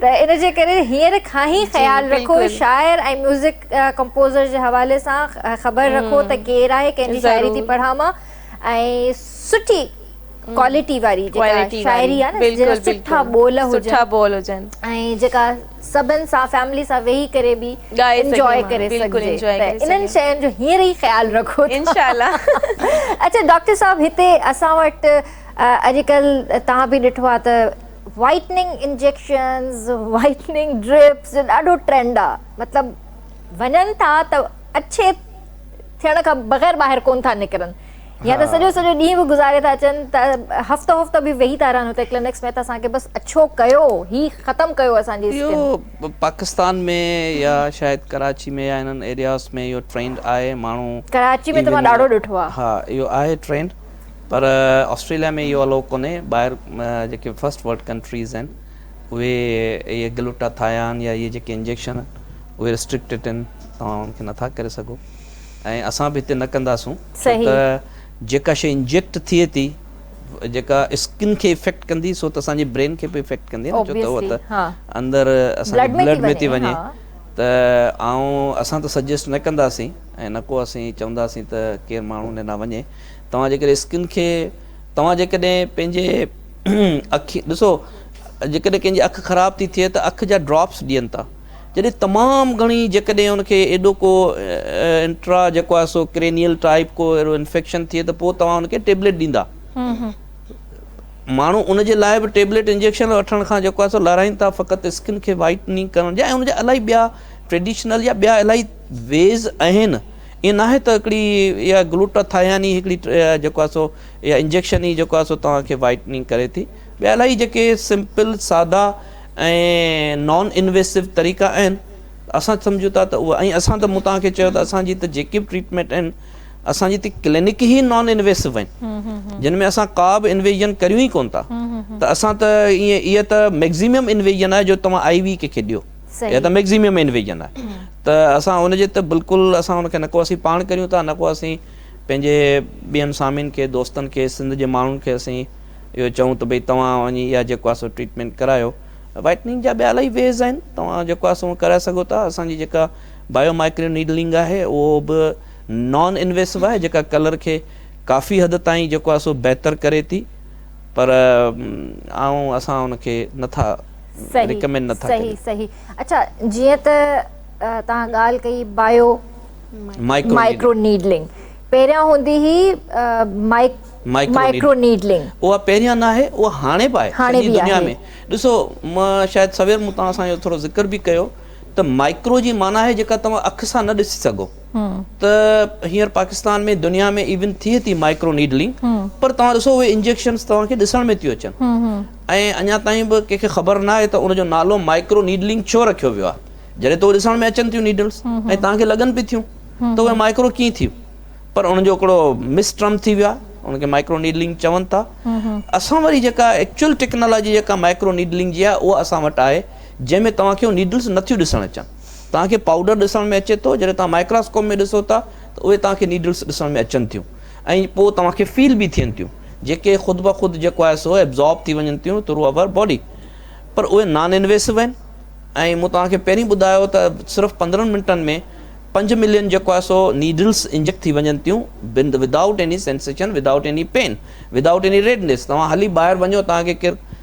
ته ان جي ڪري هينئر کان ئي جي خيال رکو بلڪل. شاعر ۽ ميوزڪ ڪمپوزر جي حوالي سان خبر رکو ته ڪير هم آهي ڪنهن جي شاعري ٿي ضرور پڙهان مان ۽ سٺي هم ڪوالٽي واري جيڪا ڪوالٽي واري شاعري آهي نه جنهن جا بلڪل سٺا بلڪل ٻول سٺا هجن ٻول هجن ۽ جيڪا سڀن سان فيملي سان ويهي ڪري به ڳائي سگهي انجوائي ماڻهو ڪري بلڪل سگهجي انجوائي ته ڪري انهن سگهي شين جو هينئر ئي خيال رکو ته انشاء الله اچا ڊاڪٽر صاحب هتي اسان وٽ اڄڪلهه توهان به ڏٺو آهي ته وائٽننگ انجيڪشنز، وائٽننگ ڊرپس جو ڏاڍو ٽرينڊ آ، مطلب وڃن ٿا ته اڇي ٿيڻ کان بغير ٻاهر ڪون ٿا نڪرن يا ته سڄو سڄو ڏينهن به گذاري ٿا اچن ته هفتو هفتو به ويهي ٿا رهن هتي ڪلينڪس ۾ ته اسان کي بس اڇو ڪيو هي ختم ڪيو اسان جي اسڪن. اهو پاڪستان ۾ يا شايد ڪراچي ۾ يا انهن ايرياز ۾ اهو ٽرينڊ آهي ماڻهو. ڪراچي ۾ ته مان ڏاڍو ڏٺو آ. ها اهو آهي ٽرينڊ. پر آسٽريليا ۾ اهو الائو ڪونهي ٻاهر جيڪي فرسٽ ورلڊ ڪنٽريز آهن اهي اهي گلوٽا ٿايان يا اهي جيڪي انجيڪشن اهي ريسٽرڪٽيڊ آهن توهان ان کي نٿا ڪري سگهو ۽ اسان به هتي نه ڪنداسون ڇو ته جيڪا شيء انجيڪٽ ٿئي ٿي جيڪا اسڪن کي افيڪٽ ڪندي سو ته اسان جي برين کي به افيڪٽ ڪندي نه ڇو ته اهو ته اندر اسان جي بلڊ ۾ ٿي وڃي ته آئون اسان ته سجيسٽ نه ڪنداسين ۽ نه ڪو اسين چونداسين ته ڪير ماڻهو هن ڏانهن وڃي توهان جيڪڏهن اسڪن کي توهان جيڪڏهن پنهنجي اکين ڏسو جيڪڏهن ڪنهن جي اک خراب ٿي ٿئي ته اک جا ڊراپس ڏين ٿا جڏهن تمام گهڻي جيڪڏهن ان کي ايڏو ڪو انٽرا جيڪو آهي سو ڪرينيل ٽائپ ڪو اهڙو انفيڪشن ٿئي ته پوء توهان ان کي ٽيبليٽ ڏيندا ماڻهو ان جي لاء به ٽيبليٽ انجيڪشن وٺڻ کان جيڪو آهي سو لارائين ٿا فقط اسڪن کي وائٽننگ ڪرڻ جي ۽ ان جا الاهي ٻيا ٽريڊيشنل يا ٻيا الاهي ويز آهن ائين ناهي ته هڪڙي اها گلوٽاٿائين ئي هڪڙي جيڪو آهي سو اها انجيڪشن ئي جيڪو آهي سو توهان کي وائٽننگ ڪري ٿي. ٻيا الاهي جيڪي سمپل سادا ۽ نان انويسو طريقا آهن ته اسان سمجهون ٿا ته اهي ۽ اسان ته مون توهان کي چيو ته اسان جي ته جيڪي به ٽريٽمينٽ آهن اسان جي ته ڪلينڪ ئي نان انويسو آهن جن ۾ اسان ڪا به انويزن ڪريون ئي ڪونه ٿا ته اسان ته ائين اها ته ميڪزيمم انويزن آهي جو توهان آئي وي ڪنهن کي ڏيو. يا ته ميگزيميم انويجن آهي ته اسان ان جي ته بلڪل اسان ان کي نه ڪو اسين پاڻ ڪريون ٿا نه ڪو اسين پنهنجي ٻين سامين کي دوستن کي سنڌ جي ماڻهن کي اسين اهو چئون ته ڀئي توهان وڃي اها جيڪو آهي سو ٽريٽمينٽ ڪرايو وائٽننگ جا ٻيا الاهي ويز آهن توهان جيڪو آهي سو ڪرائي سگهو ٿا اسان جي جيڪا بايو مائڪرو نيڊلنگ آهي اهو به نان انويسو آهي جيڪا ڪلر کي ڪافي حد تائين جيڪو آهي سو بهتر ڪري ٿي پر آئون اسان ان کي نه ٿا ريڪمينڊ نه ٿا ڪريون. صحيح صحيح اڇا جيئن ته توهان ڳالهه ڪئي بايو مائيڪرو نيڊلنگ پهريان هوندي هئي مائيڪرو نيڊلنگ. اها پهريان نه آهي اها هاڻي به آهي سڄي دنيا ۾ ڏسو مان شايد سوير مون توهان سان اهو ٿورو ذڪر به ڪيو ته مائيڪرو جي معنيٰ آهي جيڪا توهان اک سان نه ڏسي سگهو. ته هينئر پاڪستان ۾ دنيا ۾ ايون ٿئي ٿي مائڪرو نيڊلنگ پر توهان ڏسو اهي انجيڪشنس توهان کي ڏسڻ ۾ ٿيون اچن ۽ اڃا تائين به ڪنهن کي خبر ناهي ته ان جو نالو مائڪرو نيڊلنگ ڇو رکيو ويو آهي جڏهن ته اهي ڏسڻ ۾ اچن ٿيون نيڊلس ۽ توهان کي لڳن به ٿيون ته اهي مائڪرو ڪيئن ٿيون پر ان جو هڪڙو مس ٽرم ٿي ويو آهي ان کي مائڪرو نيڊلنگ چون ٿا اسان وري جيڪا ايڪچوئل ٽيڪنالاجي جيڪا مائڪرو نيڊلنگ جي آهي اها اسان وٽ آهي جنهن ۾ توهان کي نيڊلس نٿيون ڏسڻ اچن توهان کي پائوڊر ڏسڻ ۾ اچي ٿو، جڏهن توهان مائڪراسڪوپ ۾ ڏسو ٿا ته اهي توهان کي نيڊلز ڏسڻ ۾ اچن ٿيون ۽ پوء توهان کي فيل به ٿين ٿيون جيڪي خود بخود جيڪو آهي سو ابزارب ٿي وڃن ٿيون ٿرو اوور باڊي پر اهي نان انويسو آهن ۽ مون توهان کي پهرين ٻڌايو ته صرف پندرهن منٽن ۾ پنج ملين جيڪو آهي سو نيڊلز انجيڪٽ ٿي وڃن ٿيون بند without any sensation without any pain without any redness توهان هلي ٻاهر وڃو توهان کي ڪير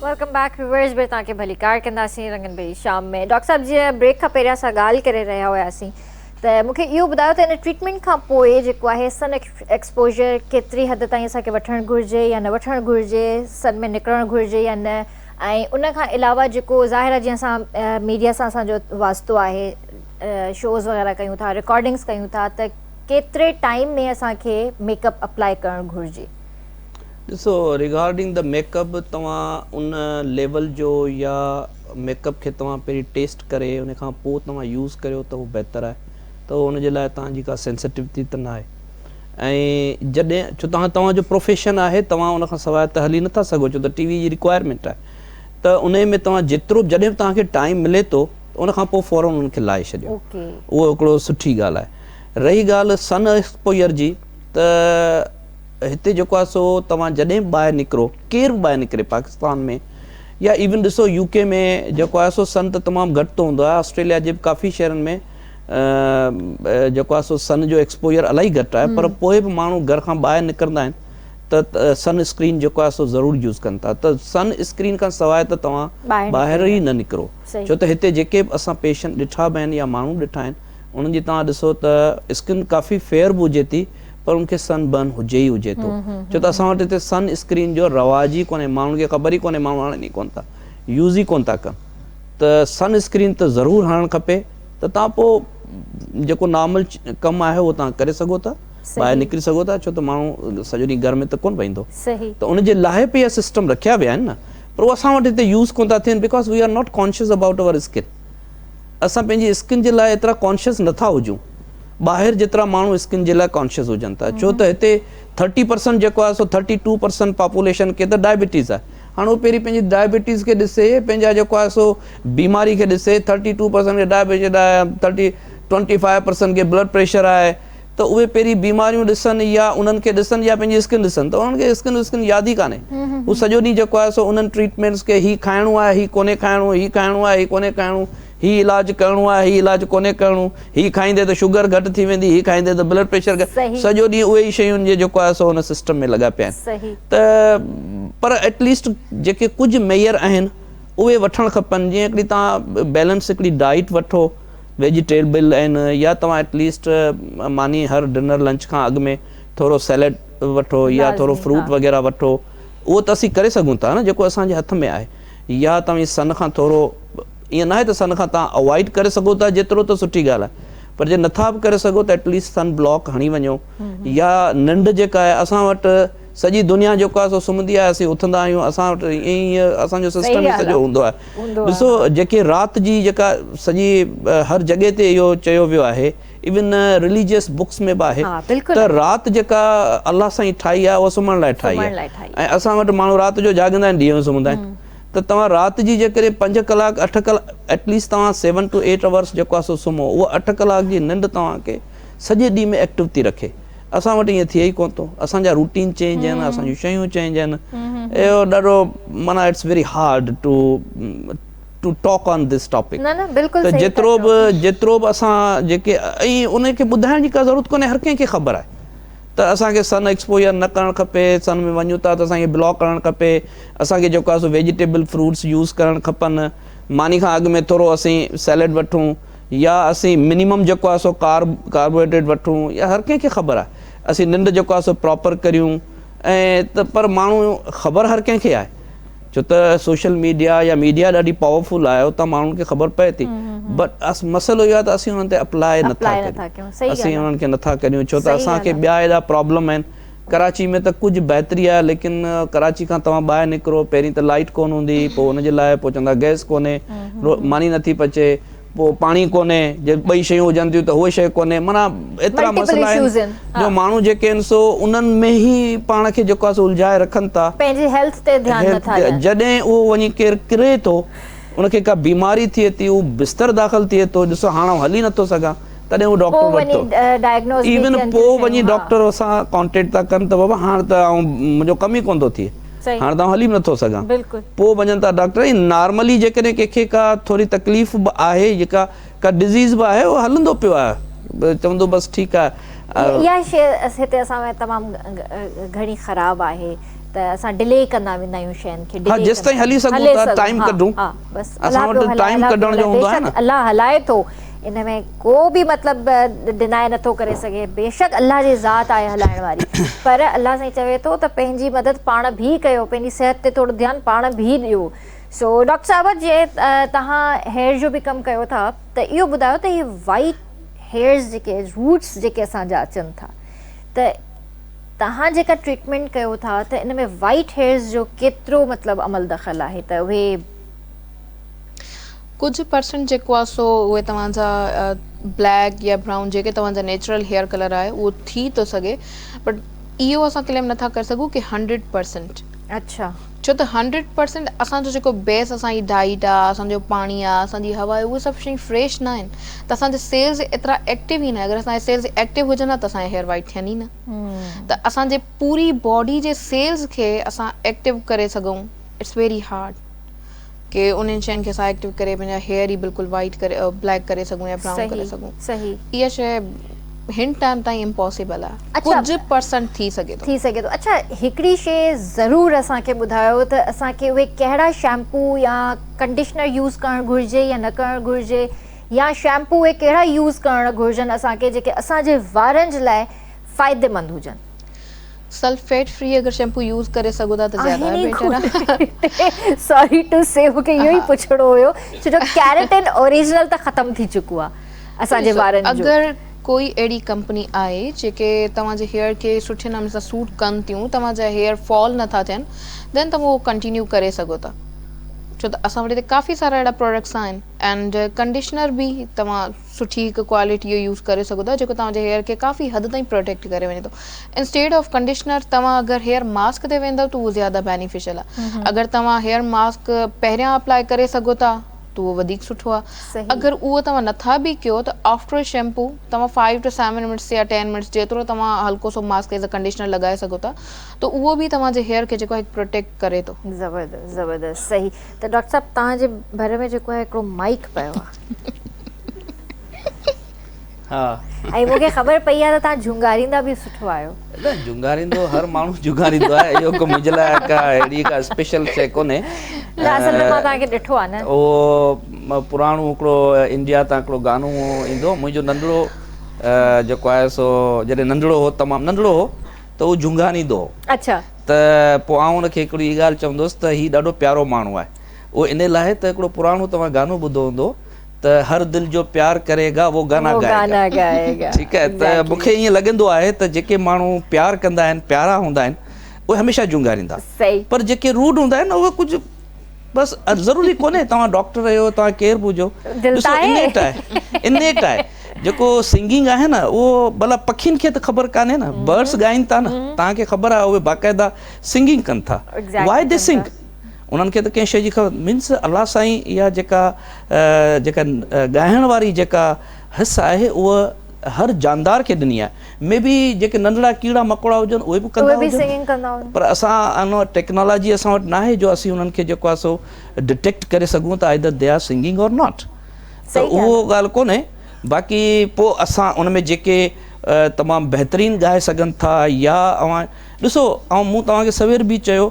ويلڪم بيڪ ويورز به توهان کي ڀلي ڪار ڪنداسين رنگن ڀري شام ۾ ڊاڪٽر صاحب جي بريڪ کان پهريان سان ڳالهه ڪري رهيا هياسين ته مون کي اهو ٻڌايو ته ان ٽريٽمينٽ کان پوء جيڪو آهي سن ايڪسپوجر ڪيتري حد تائين اسان کي وٺڻ گهرجي يا نه وٺڻ گهرجي سن ۾ نڪرڻ گهرجي يا نه ۽ ان کان علاوه جيڪو ظاهر آهي جي اسان ميڊيا سان اسان جو واسطو آهي شوز وغيره ڪيون ٿا رڪارڊنگس ڪيون ٿا ته ڪيتري ٽائيم ۾ اسان کي ميڪ اپ اپلائي ڪرڻ گهرجي ڏسو ريگارڊنگ دي ميڪ اپ توهان ان ليول جو يا ميڪ اپ کي توهان پهرين ٽيسٽ ڪري ان کان پوء توهان يوز ڪريو ته اهو بهتر آهي ته ان جي لاء توهان جي ڪا سينسٽيوٽي ته ناهي ۽ جڏهن ڇو توهان توهان جو پروفيشن آهي توهان ان کان سواء ته هلي نٿا سگهو ڇو ته ٽي وي جي ريڪوائرمينٽ آهي ته ان ۾ توهان جيترو جڏهن به توهان کي ٽائيم ملي ٿو ان کان پوء فورن ان کي لائي ڇڏيو اهو هڪڙو سٺي ڳالهه آهي رهي ڳالهه سن ايڪسپوئر جي ته هتي جيڪو آهي سو توهان جڏهن به ٻاهر نڪرو ڪير به ٻاهر نڪري پاڪستان ۾ يا ايون ڏسو يو ڪي ۾ جيڪو آهي سو سن ته تمام گهٽ ٿو هوندو آهي آسٽريليا جي به ڪافي شهرن ۾ جيڪو آهي سو سن جو ايڪسپوجر الاهي گهٽ آهي پر پوء به ماڻهو گهر کان ٻاهر نڪرندا آهن ته سن اسڪرين جيڪو آهي سو ضرور يوز ڪن ٿا ته سن اسڪرين کان سواء ته توهان ٻاهر ئي نه نڪرو ڇو ته هتي جيڪي به اسان پيشنٽ ڏٺا به آهن يا ماڻهو ڏٺا آهن انهن جي توهان ڏسو ته اسڪن ڪافي فيئر به هجي ٿي پر ان کي سن برن هجي ئي هجي ٿو ڇو ته اسان وٽ هتي سن اسڪرين جو رواج ئي ڪونهي ماڻهن کي خبر ئي ڪونهي ماڻهو هڻن ئي ڪون ٿا يوز ئي ڪون ٿا ڪن ته سن اسڪرين ته ضرور هڻڻ کپي ته تان پوء جيڪو نارمل ڪم آهي اهو توهان ڪري سگهو ٿا ٻاهر نڪري سگهو ٿا ڇو ته ماڻهو سڄو ڏينهن گهر ۾ ته ڪون ويهندو ته ان جي لاهي پي سسٽم رکيا ويا آهن نه پر اهو اسان وٽ هتي يوز ڪون ٿا ٿين because we are not conscious about our skin اسان پنهنجي اسڪن جي لاء ايترا ڪانشس نه ٿا هجون ٻاهر جيترا ماڻهو اسڪن جي لاء ڪانشس هجن ٿا ڇو ته هتي ٿرٽي پرسنٽ جيڪو آهي سو ٿرٽي ٽو پرسنٽ پاپوليشن کي ته ڊائبيٽيز آهي هاڻ هو پهرين پنهنجي ڊائبيٽيز کي ڏسي پنهنجا جيڪو آهي سو بيماري کي ڏسي ٿرٽي ٽو پرسنٽ کي diabetes thirty twenty five percent کي بلڊ پريشر آهي ته اهي پهرين بيماريون ڏسن يا انهن کي ڏسن يا پنهنجي اسڪن ڏسن ته انهن کي اسڪن وسڪن ياد ئي ڪانهي هو سڄو ڏينهن جيڪو آهي سو انهن ٽريٽمينٽس کي هي کائڻو آهي هي ڪونهي کائڻو هي کائڻو آهي هي ڪونهي کائڻو هي علاج ڪرڻو آهي هي علاج ڪونهي ڪرڻو هي کائيندي ته شگر گهٽ ٿي ويندي هي کائيندي ته بلڊ پريشر سڄو ڏينهن اهي ئي شيون جي جيڪو آهي سو ان سسٽم ۾ لڳا پيا آهن ته پر ايٽ ليسٽ جيڪي ڪجهه ميئر آهن اهي وٺڻ کپن جيئن هڪڙي تان بيلنس هڪڙي ڊائيٽ وٺو ويجيٽيبل آهن يا توهان ايٽ ليسٽ ماني هر ڊنر لنچ کان اڳ ۾ ٿورو سيليڊ وٺو يا ٿورو لازمي فروٽ ها. وغيره وٺو اهو ته اسين ڪري سگهون ٿا نه جيڪو اسان جي هٿ ۾ آهي يا توهين سن کان ٿورو ائين ناهي ته سن کان توهان اوائڊ ڪري سگهو ٿا جيترو ته سٺي ڳالهه آهي پر جي نٿا به ڪري سگهو ته ايٽ ليسٽ سن بلاڪ هڻي وڃو يا ننڊ جيڪا آهي اسان وٽ سڄي دنيا جيڪو آهي سو سمهندي آهي اسين اٿندا آهيون اسان وٽ ائين ئي اسان جو سسٽم ئي سڄو هوندو آهي ڏسو جيڪي رات جي جيڪا سڄي هر جڳهه تي اهو چيو ويو آهي ايون رليجيس بڪس ۾ به آهي ته رات جيڪا الله سائين ٺاهي آهي اها سمهڻ لاء ٺاهي آهي ۽ اسان وٽ ماڻهو رات جو جاڳندا آهن ڏينهن جو سمهندا آهن ته توهان رات جي جيڪڏهن پنج ڪلاڪ اٺ ڪلاڪ ايٽ ليسٽ توهان سيون ٽو ايٽ اورس جيڪو آهي سو سمهو اها اٺ ڪلاڪ جي ننڊ توهان کي سڄي ڏينهن ۾ ايڪٽو ٿي رکي اسان وٽ ائين ٿئي ئي ڪونه ٿو اسان جا روٽين چينج آهن اسان جون شيون چينج آهن اهو ڏاڍو معنيٰ it's very hard to to talk on this topic ته جيترو به جيترو به اسان جيڪي ائين ان کي ٻڌائڻ جي ڪا ضرورت ڪونه هر ڪنهن کي خبر آهي ته اسان کي سن ايڪسپوجر نه ڪرڻ کپي سن ۾ وڃون ٿا ته اسان کي بلاڪ ڪرڻ کپي اسان کي جيڪو آهي سو ويجيٽيبل فروٽس يوز ڪرڻ کپن ماني کان اڳ ۾ ٿورو اسين سيلڊ وٺون يا اسين منيمم جيڪو آهي سو ڪارب ڪاربوهائيڊريٽ وٺون يا هر ڪنهن کي خبر آهي اسين ننڊ جيڪو آهي سو پراپر ڪريون ۽ ته پر ماڻهو خبر هر ڪنهن کي آهي ڇو ته سوشل ميڊيا يا ميڊيا ڏاڍي پاور فل آهي اتان ماڻهن کي خبر پئي ٿي بٽ مسئلو اهو آهي ته اسين انهن تي اپلاء نٿا ڪريون اسين انهن کي نٿا ڪريون ڇو ته اسان کي ٻيا اهڙا پرابلم آهن ڪراچي ۾ ته ڪجهه بهتري آهي ليڪن ڪراچي کان توهان ٻاهر نڪرو پهرين ته لائيٽ ڪونه هوندي پوء ان جي لاء پوء چوندا گئس ڪونهي ماني نٿي پچي پوء پاڻي ڪونهي جي ٻئي شيون هجن ٿيون ته هوء شيء ڪونهي معنيٰ ايترا مسئلا آهن جو ماڻهو جيڪي آهن سو انهن ۾ ئي پاڻ کي جيڪو آهي سو الجهائي رکن ٿا پنهنجي هيلٿ تي ڌيان نٿا ڏين جڏهن اهو وڃي ڪير ڪري ٿو ان کي ڪا بيماري ٿئي ٿي هو بستر داخل ٿئي ٿو ڏسو هاڻ آئون هلي نٿو سگهان تڏهن هو ڊاڪٽر وٽ ٿو ايون پوء وڃي ڊاڪٽر سان ڪانٽيڪٽ ٿا ڪن ته بابا هاڻ ته آئون منهنجو ڪم ئي ڪونه ٿو ٿئي هاڻ ته آئون هلي به نه ٿو سگهان پوء وڃن ٿا ڊاڪٽر ۽ نارملي جيڪڏهن ڪنهن کي ڪا ٿوري تڪليف به آهي جيڪا ڪا ڊزيز به آهي اهو هلندو پيو آهي چوندو بس ٺيڪ آهي اها شي هتي اسان ۾ تمام گهڻي خراب آهي ته اسان ڊلي ڪندا ويندا آهيون شين کي ها جيستائين هلي سگهون ٿا ٽائيم ڪڍون اسان وٽ ٽائيم ڪڍڻ جو هوندو آهي نه الله هلائي ٿو ان ۾ ڪو به مطلب ڊناء نٿو ڪري سگهي بيشڪ الله جي ذات آهي هلائڻ واري پر الله سائين چوي ٿو ته پنهنجي مدد پاڻ ڀي ڪيو پنهنجي صحت تي ٿورو ڌيان پاڻ ڀي ڏيو سو ڊاڪٽر صاحب جي تهان هيئر جو به ڪم ڪيو ٿا ته اهو ٻڌايو ته هي وائٽ هيئرز جيڪي روٽس جيڪي اسان جا اچن ٿا ته تهان جيڪا ٽريٽمنٽ ڪيو ٿا ته ان ۾ وائٽ هيئرز جو ڪيترو مطلب عمل دخل آهي ته اهي ڪجهه پرسنٽ جيڪو آهي سو اهي توهان جا بليڪ يا برائون جيڪي توهان جا نيچرل هيئر ڪلر آهي اهو ٿي ٿو سگهي بٽ اهو اسان ڪليم نٿا ڪري سگهون ڪي هنڊريڊ پرسنٽ اڇا ڇو ته هنڊريڊ پرسنٽ اسان جو جيڪو بيس اسان جي ڊائيٽ آهي اسان جو پاڻي آهي اسان جي هوا آهي اهي سڀ شيون فريش نه آهن ته اسان جا سيلز ايترا ايڪٽو ئي نه اگر اسان جا سيلز ايڪٽو هجن ها ته اسان جا هيئر وائٽ ٿين ئي نه ته اسان جي پوري باڊي جي سيلز کي اسان ايڪٽو ڪري سگهون اٽس ويري هارڊ ڪي انهن شين کي اسان ايڪٽيو ڪري پنهنجا هيئر ئي بلڪل وائيٽ ڪري بليڪ ڪري سگهون يا برائون ڪري سگهون اها شي هن ٽائيم تائين امپاسيبل آهي ڪجهه پرسنٽ ٿي سگهي ٿو ٿي سگهي ٿو اڇا هڪڙي شي ضرور اسان کي ٻڌايو ته اسان کي اهي ڪهڙا شيمپو يا ڪنڊيشنر يوز ڪرڻ گهرجي يا نه ڪرڻ گهرجي يا شيمپو اهي ڪهڙا يوز ڪرڻ گهرجن اسان کي جيڪي اسان جي وارن جي لاء فائديمند هجن سلفيٽ فري اگر شيمپو يوز ڪري سگهو ٿا ته زياده بيٽر آهي. ساري ٽو سي مون کي اهو ئي پڇڻو هيو ڇو جو ڪيريٽن اوريجنل ته ختم ٿي چڪو آهي اسان جي وارن جو. اگر ڪوئي اهڙي ڪمپني آهي جيڪي توهان جي هيئر کي سٺي نموني سان سوٽ ڪن ٿيون توهان جا هيئر فال نه ٿا ٿين ڏين ته اهو ڪنٽينيو ڪري سگهو ٿا ڇو ته اسان وٽ هتي ڪافي سارا اهڙا پراڊڪٽس آهن اينڊ ڪنڊيشنر به توهان سٺي هڪ ڪوالٽي جو يوز ڪري سگهو ٿا جيڪو توهان جي هيئر کي ڪافي حد تائين پروٽيڪٽ ڪري وڃي ٿو انسٽيڊ آف ڪنڊيشنر توهان اگر هيئر ماسڪ تي ويندو ته اهو زياده بينيفيشل آ اگر توهان هيئر ماسڪ پهريان اپلائي ڪري سگهو ٿا ته اهو وڌيڪ سٺو آ اگر اهو توهان نٿا به ڪيو ته آفٽر شيمپو توهان فائيو ٽو سيون منٽس يا ٽين منٽس جيترو توهان هلڪو سو ماسڪ ايز ا ڪنڊيشنر لڳائي سگهو ٿا ته اهو به توهان جي هيئر کي جيڪو آ هڪ پروٽيڪٽ ڪري ٿو زبردست زبردست صحيح ته ڊاڪٽر صاحب توهان جي ڀر ۾ جيڪو آ هڪڙو مائڪ پيو آ ۽ مون کي خبر پئي آهي ته توهان جهونگاريندا به سٺو آهيو. نه جهونگاريندو هر ماڻهو جهونگاريندو آهي اهو ڪو منهنجي لاء ڪا اهڙي ڪا اسپيشل شيء ڪونهي. نه اصل ۾ مان توهان کي ڏٺو آهي نه. اهو پراڻو هڪڙو انڊيا تان هڪڙو گانو ايندو هو منهنجو ننڍڙو جيڪو آهي سو جڏهن ننڍڙو هو تمام ننڍڙو هو ته اهو جهونگاريندو هو. اچا. ته پوء آئون ان کي هڪڙي ڳالهه چوندو هوس ته هي ڏاڍو پيارو ماڻهو آهي. اهو ان لاء ته هڪڙو پراڻو توهان گانو ٻڌو هوندو ته هر دل جو پيار ڪري گا وو گانا گائي گا ٺيڪ آهي ته مون کي ائين لڳندو آهي ته جيڪي ماڻهو پيار ڪندا آهن پيارا هوندا آهن اهي هميشه جونگاريندا پر جيڪي روڊ هوندا آهن اهي ڪجهه بس ضروري ڪونهي توهان ڊاڪٽر هيو توهان ڪير به هجو ڏسو انيٽ آهي انيٽ آهي جيڪو سنگنگ آهي نه اهو ڀلا پکين کي ته خبر ڪانهي نه برڊس ڳائين ٿا نه توهان کي خبر آهي اهي باقاعده سنگنگ ڪن ٿا وائي دي سنگ انهن کي ته ڪنهن شيء جي خبر مينس الله سائين اها جيڪا جيڪا ڳائڻ واري جيڪا حس آهي اها هر جاندار کي ڏني آهي مي بي جيڪي ننڍڙا ڪيڙا مڪوڙا هجن اهي به ڪندا هجن پر اسان ان ٽيڪنالاجي اسان وٽ نه آهي جو اسين انهن کي جيڪو آهي سو ڊٽيڪٽ ڪري سگهون ته either they are singing or not ته اهو ڳالهه ڪونهي باقي پوء اسان ان ۾ جيڪي تمام بهترين ڳائي سگهن ٿا يا اوهان ڏسو آئون مون توهان کي سوير به چيو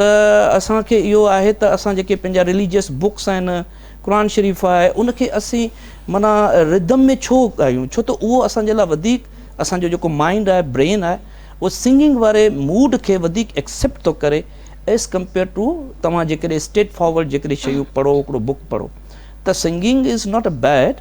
ته اسان کي اهو آهي ته اسان جيڪي پنهنجا رليجيس بڪس آهن قرآن شريف آهي ان کي اسين معنيٰ ردم ۾ ڇو ڳايون ڇو ته اهو اسان جي لاء وڌيڪ اسان جو جيڪو مائنڊ آهي برين آهي اهو سنگنگ واري موڊ کي وڌيڪ ايڪسيپٽ ٿو ڪري ايز ڪمپيئر ٽو توهان جيڪڏهن اسٽريٽ فارورڊ جيڪڏهن شيون پڙهو هڪڙو بڪ پڙهو ته singing is not a bad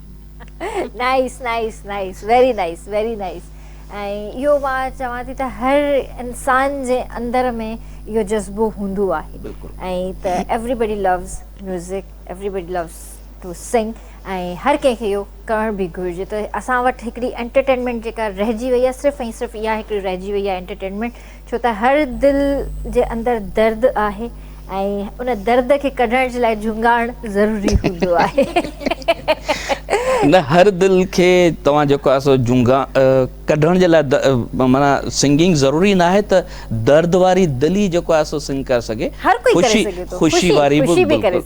nice nice nice very nice very nice ۽ اهو مان چوان ٿي ته هر انسان جي اندر ۾ اهو جذبو هوندو آهي ۽ ته everybody loves music everybody loves to sing ۽ هر ڪنهن کي اهو ڪرڻ به گهرجي ته اسان وٽ هڪڙي انٽرٽينمينٽ جيڪا رهجي وئي آهي صرف ۽ صرف اها هڪڙي رهجي وئي آهي انٽرٽينمينٽ ڇو ته هر دل جي اندر درد آهي ۽ ان درد کي ڪڍڻ جي لاء جهونگاڻ ضروري هوندو آهي. نه هر دل کي توهان جيڪو آهي سو جهونگا ڪڍڻ جي لاء معنيٰ سنگنگ ضروري ناهي ته درد واري دل ئي جيڪو آهي سو سنگ ڪري سگهي. هر ڪوئي ڪري سگهي ٿو. خوشي واري به.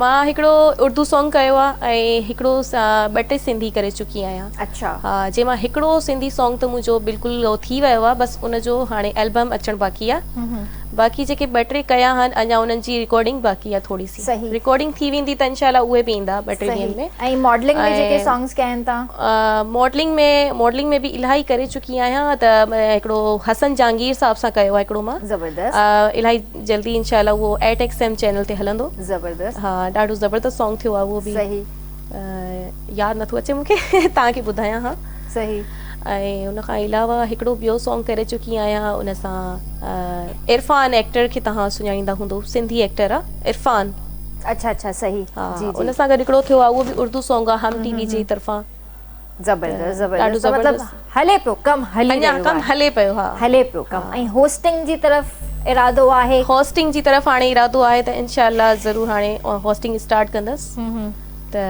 مان هڪڙو اردو سانگ ڪيو آ ۽ هڪڙو ٻه ٽي سنڌي ڪري چڪي آهيان اڇا ها جنهن مان هڪڙو سنڌي سانگ ته منهنجو بلڪل ٿي ويو آ بس ان جو هاڻي البم اچڻ باقي آ باقي جيڪي ٻه ٽي ڪيا آهن اڃا انهن جي رڪارڊنگ باقي آ ٿوري سي رڪارڊنگ ٿي ويندي ته انشاء الله اهي به ايندا ٻه ٽي ڏينهن ۾ ۽ ماڊلنگ ۾ جيڪي سانگز ڪيا آهن تان ماڊلنگ ۾ ماڊلنگ ۾ به الاهي ڪري چڪي آهيان ته هڪڙو حسن جهانگير صاحب سان ڪيو آ هڪڙو مان زبردست الاهي جلدي انشاء الله اهو ايٽ ايڪس ايم چينل تي هلندو. زبردست. ها ڏاڍو زبردست سانگ ٿيو آهي اهو به. صحيح. ياد نٿو اچي مونکي توهان کي ٻڌايان ها. صحيح. ۽ ان کان علاوه هڪڙو ٻيو سانگ ڪري چڪي آهيان ان سان عرفان ايڪٽر کي توهان سڃاڻيندا هوندو سنڌي ايڪٽر آهي عرفان. اڇا اڇا صحيح جي جي. ان سان گڏ هڪڙو ٿيو آهي اهو به اردو سانگ آهي هم ٽي وي جي طرفان. زبردست زبردست ته مطلب هلي پيو ڪم هلي رهيو آهي اڃا ڪم هلي پيو ها هلي پيو ڪم ۽ هوسٽنگ جي طرف ارادو آهي هوسٽنگ جي طرف هاڻي ارادو آهي ته انشاء الله ضرور هاڻي هوسٽنگ اسٽارٽ ڪندس ته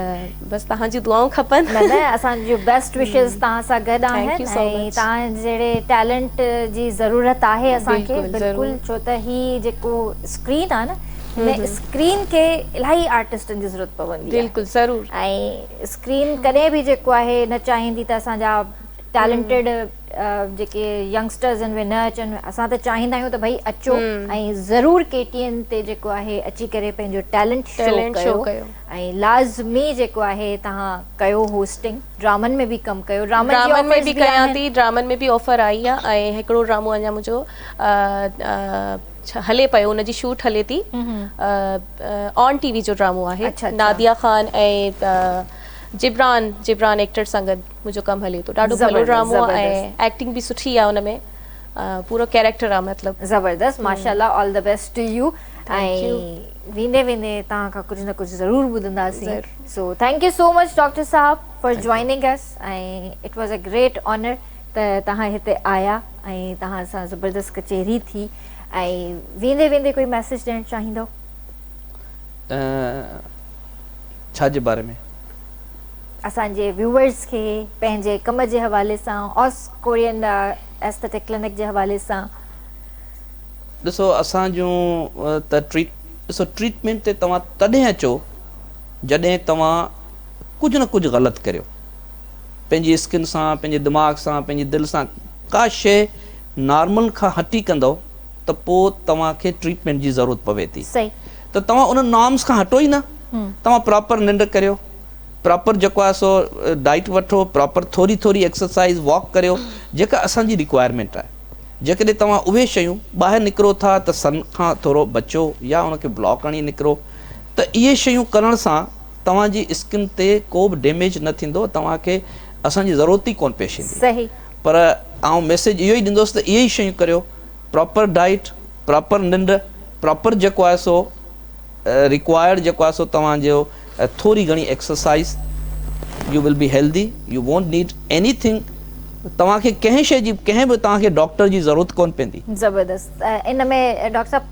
بس توهان جون دعائون کپن نه نه اسان جون بيسٽ وشز توهان سان گڏ آهن ۽ توهان جهڙي ٽيلنٽ جي ضرورت آهي اسان کي بلڪل ڇو ته هي جيڪو اسڪرين آهي نه هن اسڪرين کي الاهي آرٽسٽن جي ضرورت پوندي آهي بلڪل ضرور ۽ اسڪرين ڪڏهن به جيڪو آهي نه چاهيندي ته اسان جا ٽيلنٽيڊ جيڪي ينگسٽرز آهن اهي نه اچن اسان ته چاهيندا آهيون ته ڀئي اچو ۽ ضرور ڪي ٽي اين تي جيڪو آهي اچي ڪري پنهنجو ٽيلنٽ شو ڪيو ۽ لازمي جيڪو آهي تهان ڪيو هوسٽنگ ڊرامن ۾ به ڪم ڪيو ڊرامن ۾ به ڪيان ٿي ڊرامن ۾ به آفر آئي آهي ۽ هڪڙو ڊرامو اڃا منهنجو هلي پيو ان جي شوٽ هلي ٿي آن ٽي وي جو ڊرامو آهي ناديا خان ۽ جبران جبران ايڪٽر سان گڏ منهنجو ڪم هلي ٿو ڏاڍو ڀلو ڊرامو آهي ايڪٽنگ به سٺي آهي ان ۾ پورو ڪيريڪٽر آهي مطلب زبردست ماشاءالله all the best to you ۽ ويندي ويندي توهان کان ڪجهه نه ڪجهه ضرور ٻڌنداسين سو thank you so much doctor صاحب for joining us ۽ it was a great honour ته توهان هتي آيا ۽ توهان سان زبردست ڪچهري ٿي ۽ ويندي ويندي ڪوئي ميسيج ڏيڻ چاهيندؤ؟ ڇا جي باري ۾؟ اسان جي ويوورز کي پنهنجي ڪم جي حوالي سان اوس ڪورين ايسٿيٽڪ ڪلينڪ جي حوالي سان. ڏسو اسان جون ته ٽريٽ ڏسو ٽريٽمينٽ تي توهان تڏهن اچو جڏهن توهان ڪجهه نه ڪجهه غلط ڪريو. پنهنجي اسڪن سان، پنهنجي دماغ سان، پنهنجي دل سان ڪا شيء نارمل کان هٽي ڪندؤ ته پوء توهان کي ٽريٽمينٽ جي ضرورت پوي ٿي ته توهان انهن نارمز کان هٽو ئي نه توهان پراپر ننڊ ڪريو پراپر جيڪو آهي سو ڊائيٽ وٺو پراپر ٿوري ٿوري ايڪسرسائيز واڪ ڪريو جيڪا اسان جي ريڪوائرمينٽ آهي جيڪڏهن توهان اهي شيون ٻاهر نڪرو ٿا ته سن کان ٿورو بچو يا ان کي بلاڪ هڻي نڪرو ته اهي شيون ڪرڻ سان توهان جي اسڪن تي ڪو به ڊيميج نه ٿيندو توهان کي اسان جي ضرورت ئي ڪون پيش ايندي پر آئون ميسيج اهو ئي ڏيندوس ته اهي ئي شيون ڪريو پراپر ڊائيٽ پراپر ننڊ پراپر جيڪو آهي سو ريڪوائرڊ جيڪو آهي سو توهان جو ٿوري گهڻي exercise you will be healthy you won't need anything توهان کي ڪنهن شي جي ڪنهن به توهان کي ڊاڪٽر جي ضرورت ڪون پيندي زبردست ان ۾ ڊاڪٽر صاحب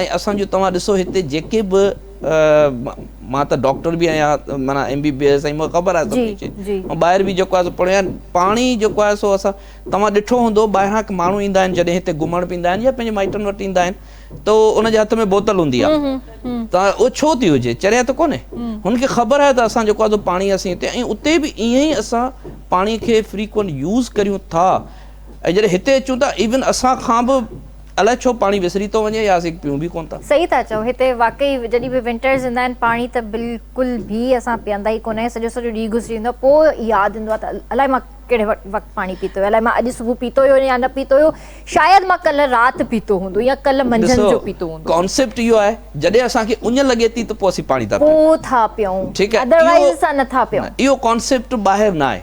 ۽ اسان جو توهان ڏسو هتي جيڪي به مان ته ڊاڪٽر به آهيان معنيٰ ايم بي بي ايس ۽ مون کي خبر آهي سڀ ڪجهه ۽ ٻاهر به جيڪو آهي پڙهيو آهي پاڻي جيڪو آهي سو اسان توهان ڏٺو هوندو ٻاهران ماڻهو ايندا آهن جڏهن هتي گهمڻ به ايندا آهن يا پنهنجي مائٽن وٽ ايندا آهن ته ان جي هٿ ۾ بوتل هوندي آهي ته اهو ڇو ٿي هجي چريا ته ڪونهي هن کي خبر آهي ته اسان جيڪو آهي سو پاڻي اسين هتي ۽ اتي به ائين ئي اسان پاڻي کي فريڪوئنٽ يوز ڪريون ٿا ۽ جڏهن هتي اچون ٿا ايون اسان کان به الائي ڇو پاڻي وسري ٿو وڃي يا اسين پيئون به ڪونه ٿا. صحيح ٿا چئو هتي واقعي جڏهن به ونٽرز ايندا آهن پاڻي ته بلڪل به اسان پيئندا ئي ڪونه آهيون سڄو سڄو ڏينهن گذري ويندو آهي پوء ياد ايندو آهي ته الائي مان ڪهڙي وقت پاڻي پيتو الائي مان اڄ صبح پيتو هيو يا نه پيتو هيو شايد مان ڪلهه رات پيتو هوندو يا ڪلهه منجهند جو پيتو هوندو. ڪانسيپٽ اهو آهي جڏهن اسان کي اڃ لڳي ٿي ته پوء اسين پاڻي ٿا پيئون. پوء ٿا پيئون ادروائيز اسان نه ٿا پيئون. اهو ڪانسيپٽ ٻاهر نه آهي.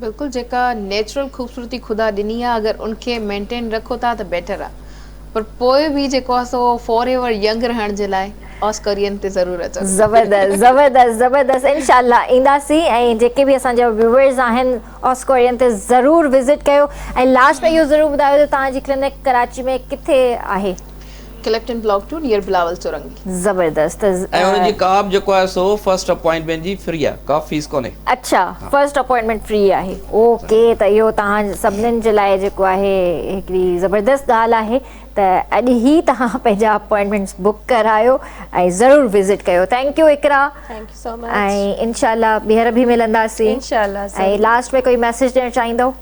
بلڪل جيڪا نيچرل خوبصورتي خدا ڏني آ اگر ان کي مينٽين رکو ٿا ته بيٽر آ پر پوء به جيڪو آ سو فار ايور ينگ رهڻ جي لاء آسڪرين تي ضرور اچو. زبردست زبردست زبردست انشاء الله اينداسين ۽ جيڪي به اسان جا ويوئرز آهن آسڪرين تي ضرور وزٽ ڪيو ۽ لاسٽ ۾ اهو ضرور ٻڌايو ته توهان جي ڪلينڪ ڪراچي ۾ ڪٿي آهي. Clifton block two near Bilawal سرنگي. زبردست. ۽ انهن جي ڪاب جيڪو آهي سو فرسٽ اپوائنٽمينٽ جي فري آهي ڪا فيس ڪونهي. اڇا فرسٽ اپوائنٽمينٽ فري آهي اوڪي ته اهو توهان سڀنن جي لاء جيڪو آهي هڪڙي زبردست ڳالهه آهي ته اڄ هي توهان پنهنجا اپوائنٽمينٽس بڪ ڪرايو ۽ ضرور وزٽ ڪيو ٿينڪ يو اقرا ۽ انشاء الله ٻيهر به ملنداسين ۽ لاسٽ ۾ ڪوئي ميسج ڏيڻ چاهيندو.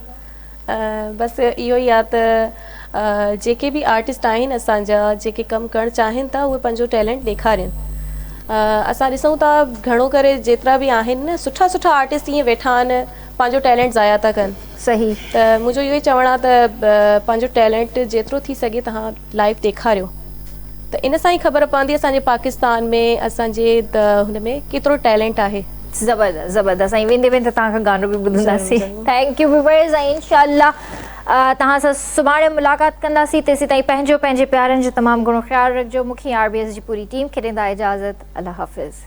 بس اهو ئي آهي ته جيڪي به آرٽسٽ آهن اسان جا جيڪي ڪم ڪرڻ چاهين ٿا اهي پنهنجو ٽيلنٽ ڏيکارين اسان ڏسون ٿا گهڻو ڪري جيترا به آهن نه سٺا سٺا آرٽسٽ ائين ويٺا آهن پنهنجو ٽيلنٽ ضايع ٿا ڪن صحيح ته منهنجو اهو ئي چوڻ آهي ته پنهنجو ٽيلنٽ جيترو ٿي سگهي توهان لائيو ڏيکاريو ته ان سان ئي خبر پوندي اسان جي پاڪستان ۾ اسان جي هن ۾ ڪيترو ٽيلنٽ آهي. زبردست زبردست سائين ويندي ويندي توهان کان گانو به ٻڌنداسين ٿينڪ يو ويورز ۽ انشاء الله توهان سان سڀاڻي ملاقات ڪنداسين تيسين تائين پنهنجو پنهنجي پيارن جو تمام گهڻو خيال رکجو مون کي ۽ آر بي ايس جي پوري ٽيم کي ڏيندا اجازت الله حافظ.